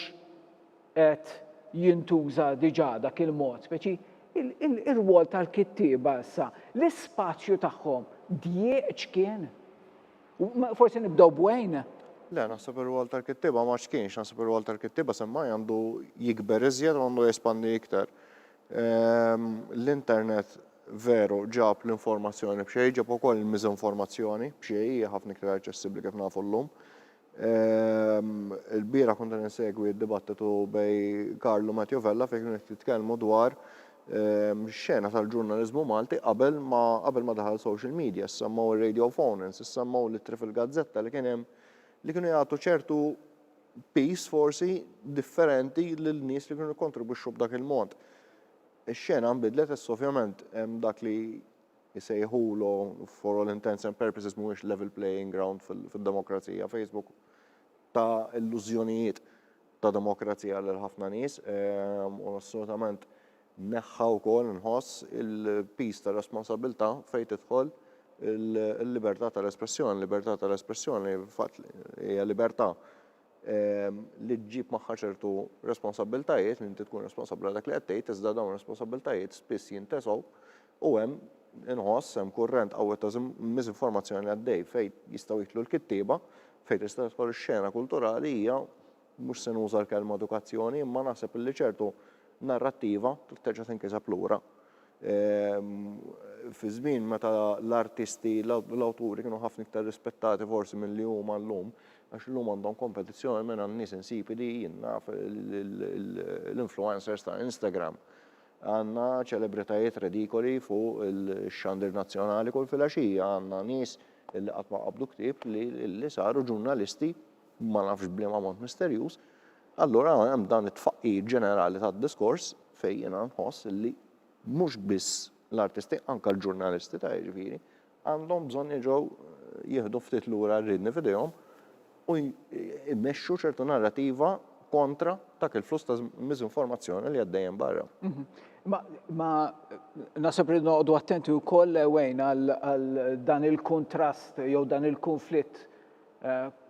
Speaker 1: qed jintuża diġà dak il-mod, speċi ir-rwol tal-kittieba issa, l-ispazju tagħhom djieq x'kien? Forsi nibdew b'Wayne? Le, naħseb
Speaker 3: ir-rwol tal-kittieba ma x'kienx, naħseb ir-rwol tal-kittieba semmai għandu jikber iżjed u għandu jespandi iktar. L-internet veru ġab l-informazzjoni b'xejn, ġab ukoll il-miżinformazzjoni b'xejn, hija ħafna iktar aċċessibbli kif nafu llum. Il-bira kont insegwi d-dibattitu bej Karlu Matthew Vella fejn kienu qed jitkellmu dwar xena tal-ġurnaliżmu Malti qabel ma qabel ma daħal social media, semmew ir-radio phone-ins, semmew l-ittri fil-gazzetta li kien hemm li kienu jagħtu ċertu piece forsi differenti lil nies li kienu jikkontribwixxu b'dak il-mod. Ix-xena nbidlet issa ovvjament hemm dak li jsejħulu for all intents and purposes mhuwiex level playing ground fid-demokrazija. Facebook ta' illużjonijiet ta' demokrazija lil ħafna nies u assolutament Neħħa wkoll, inħoss, il-piż tar-responsabbiltà fejn tidħol il-libertà tal-espressjoni. Libertà tal-espressjoni fil-fatt hija libertà li ġġib magħha ċertu responsabbiltajiet, li inti tkun responsabbli għal dak li qed tgħid, iżda dawn ir-responsabbiltajiet spiss jintesgħu u hemm, inħoss, hemm kurrent qawwi ta' miżinformazzjoni għaddej fejn jistgħu jidħlu l-kittieba, fejn tista' tidħol ix-xena kulturali hija Mhux se nuża l-kelma edukazzjoni, imma naħseb li ċertu narrattiva trid terġa' tinkiseb lura. Fi żmien meta l-artisti, l-awturi kienu ħafna iktar rispettati forsi milli huma llum, għax illum għandhom kompetizzjoni minn għan-nies insipidi jien naf l-influencers ta' Instagram. Għandna ċelebritajiet redikoli fuq ix-xandir nazzjonali kull filgħaxija, għandna nies li qatt ma qabdu ktieb li saru ġurnalisti ma nafx b'liema mod misterjuż, allura hemm dan it-tfaqqigħ ġenerali tad-diskors fejn jiena nħoss li mhux biss l-artisti, anke l-ġurnalisti ta' jiġifieri, għandhom bżonn jerġgħu jieħdu ftit lura r-riedni f'idejhom u jmexxu ċertu narrativa kontra dak il-fluss ta' miżinformazzjoni li għaddej hemm barra. Ma,
Speaker 1: ma naħseb li noqogħdu attenti wkoll wejn għal dan il-kuntrast jew dan il-kunflitt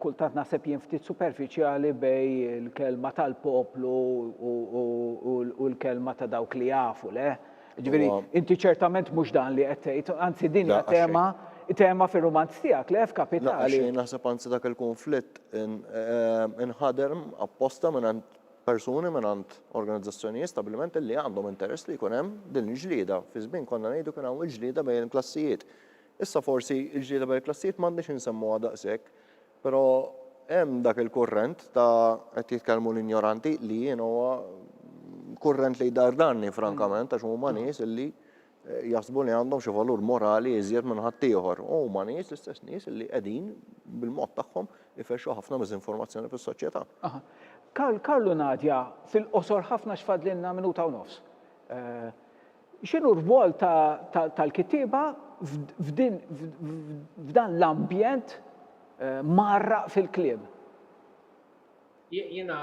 Speaker 1: Kultant naħseb jien ftit superfiċjali bejn il-kelma tal-poplu u l-kelma ta' dawk li jafu, le? Ġifieri, inti ċertament mhux dan li qed tgħid, anzi din hija tema tema fir-rumanz tiegħek, le, f'Kapitali? Le, naħseb anzi dak
Speaker 3: il-kunflitt inħader apposta mingħand persuni, mingħand organizzazzjonijiet, stabbilimenti li għandhom interess li jkun hemm din il-ġlieda. Fi żmien konna ngħidu kien hawn il-ġlieda bejn il-klassijiet. Issa forsi l-ġlieda bejn il-klassijiet m'għandniex insemmuha daqshekk, però hemm dak il-kurrent ta' qed jitkellmu l-injoranti li jien huwa kurrent li jdardarni frankament għax huma nies li jaħsbu li għandhom xi valur morali iżjed minn ħaddieħor. U huma nies l-istess nies li qegħdin bil-mod tagħhom ifexxu ħafna miżinformazzjoni fis-soċjetà. Aha. Karl,
Speaker 1: Karl u Nadia, fil-qosor ħafna għax fadlilna minuta u nofs. X'inhu r-rwol tal-kittieba f'dan l-ambjent mgħarraq fil-kliem?
Speaker 5: Jiena,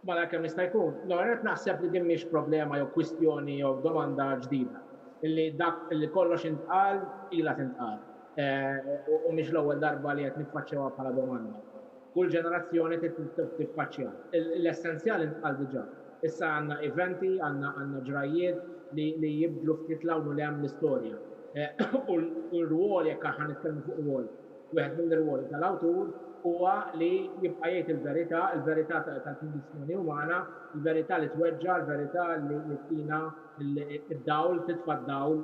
Speaker 5: malajr kemm jista' jkun, l-ewwel nett naħseb li din mhix problema jew kwistjoni jew domanda ġdida, li dak li kollox intqal ilha tintqal u mhix l-ewwel darba li qed niffaċċjawha bħala domanda. Kull ġenerazzjoni tiffaċċja. L-essenzjal intqal diġà. Issa għandna eventi, għandna ġrajjiet li jibdlu ftit 'l hawn u 'l hemm l-istorja. U r-rwol, jekk aħna nitkellmu fuq rwol, wieħed mill-irwoli tal-awtur huwa li jibqa' jgħid il-verità, il-verità tal-kundizzjoni umana, il-verità li tweġġa', il-verità li ttina d-dawl, titfa' d-dawl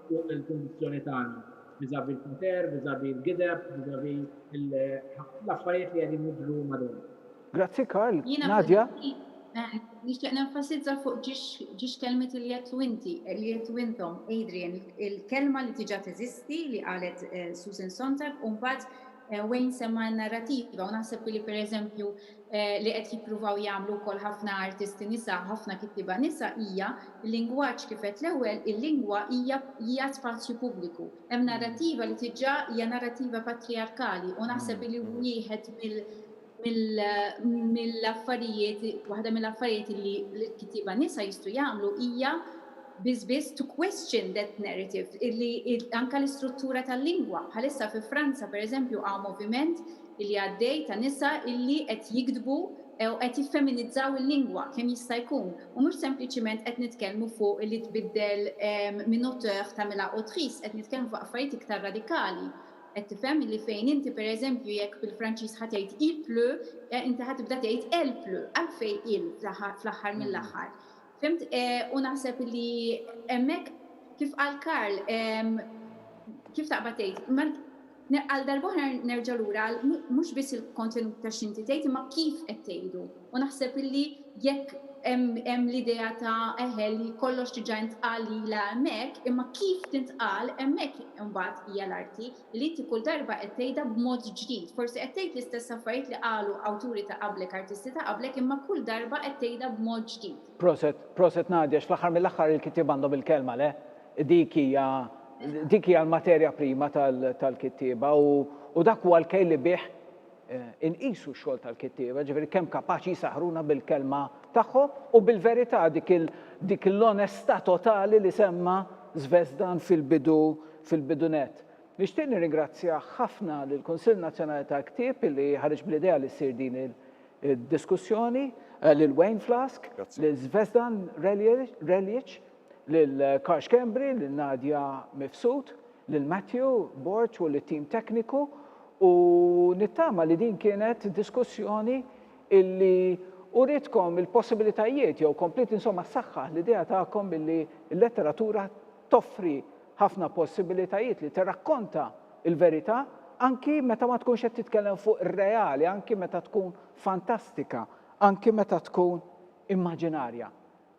Speaker 5: fuq il-kundizzjoni tagħna. vis-à-vis l-poter, vis-à-vis l-gideb, vis-à-vis l-affarijiet li qegħdin jiġru madwarna. Grazzi Karl.
Speaker 1: Nadia? Jiena fil-fatt
Speaker 4: nixtieq nenfasizza fuq ġiex kelmiet li għedtu inti, li għedtu intom, Adrian, il-kelma li diġà teżisti li qalet Susan Sontag u mbagħad Wayne semma n-narrativa u naħseb li pereżempju li qed jippruvaw jagħmlu wkoll ħafna artisti nisa, ħafna kittieba nisa hija l-lingwaġġ kif għedt l-ewwel, il-lingwa hija hija spazju pubbliku. Hemm narrattiva li tiġà hija narrattiva patrijarkali u naħseb li wieħed mill mill-affarijiet waħda mill-affarijiet li l-kittieba nisa jistgħu jagħmlu hija biss biss to question that narrative li anke l-istruttura tal-lingwa. Bħalissa fi Franza pereżempju hawn moviment li għaddej ta' nisa illi qed jiktbu u qed jiffeminizzaw il-lingwa kemm jista' jkun u mhux sempliċiment qed nitkellmu fuq illi tbiddel minn auteur tagħmilha autrice qed nitkellmu fuq affarijiet iktar radikali qed tifhem illi fejn inti pereżempju jekk bil-Franċiż ħa tgħid il pleut inti ħa tibda tgħid elle pleut għalfejn il fl-aħħar mill-aħħar Fhimt, u naħseb li hemmhekk, kif qal Karl, kif taqbad tgħid, għal darb'oħra nerġa' lura għal mhux biss il-kontenut ta' x'inti tgħid imma kif qed tgħidu. U naħseb li jekk hemm l-idea ta' eħe li kollox diġà intqal lilha hemmhekk, imma kif tintqal, hemmhekk imbagħad hija l-arti. li inti kull darba qed tgħidha b'mod ġdid. Forsi qed tgħid l-istess affarijiet li qalu awturi ta' qablek, artisti ta' qablek, imma kull darba qed tgħidha b'mod ġdid. Proset, proset
Speaker 1: Nadia, x'fl-aħħar mill-aħħar il-kittieb għandhom il-kelma, le? Dik hija, dik hija l-materja prima tal-kittieba u, u dak huwa l-kejl li bih Inqisu x-xogħol tal-kittieba, ġifieri kemm kapaċi jsaħħruna bil-kelma tagħhom u bil-verità dik il dik l-onestà totali li semma' Zvezdan fil-bidu fil-bidu nett. Nixtieq nirringrazzja ħafna lill-Kunsill Nazzjonali tal-Ktieb li ħareġ bl-idea li ssir din il diskussjoni, lil Wayne Flask, lil Zvezdan Reljic, lil Karl Schembri, lil Nadia Mifsud, lil Matthew Borg u lit-tim tekniku u nittama li din kienet diskussjoni illi uritkom il-possibilitajiet jew kompliet insomma ssaħħaħ l-idea tagħkom illi l-letteratura toffri ħafna possibilitajiet li tirrakkonta l-verità anki meta ma tkunx qed titkellem fuq ir-reali, anki meta tkun fantastika, anki meta tkun immaġinarja.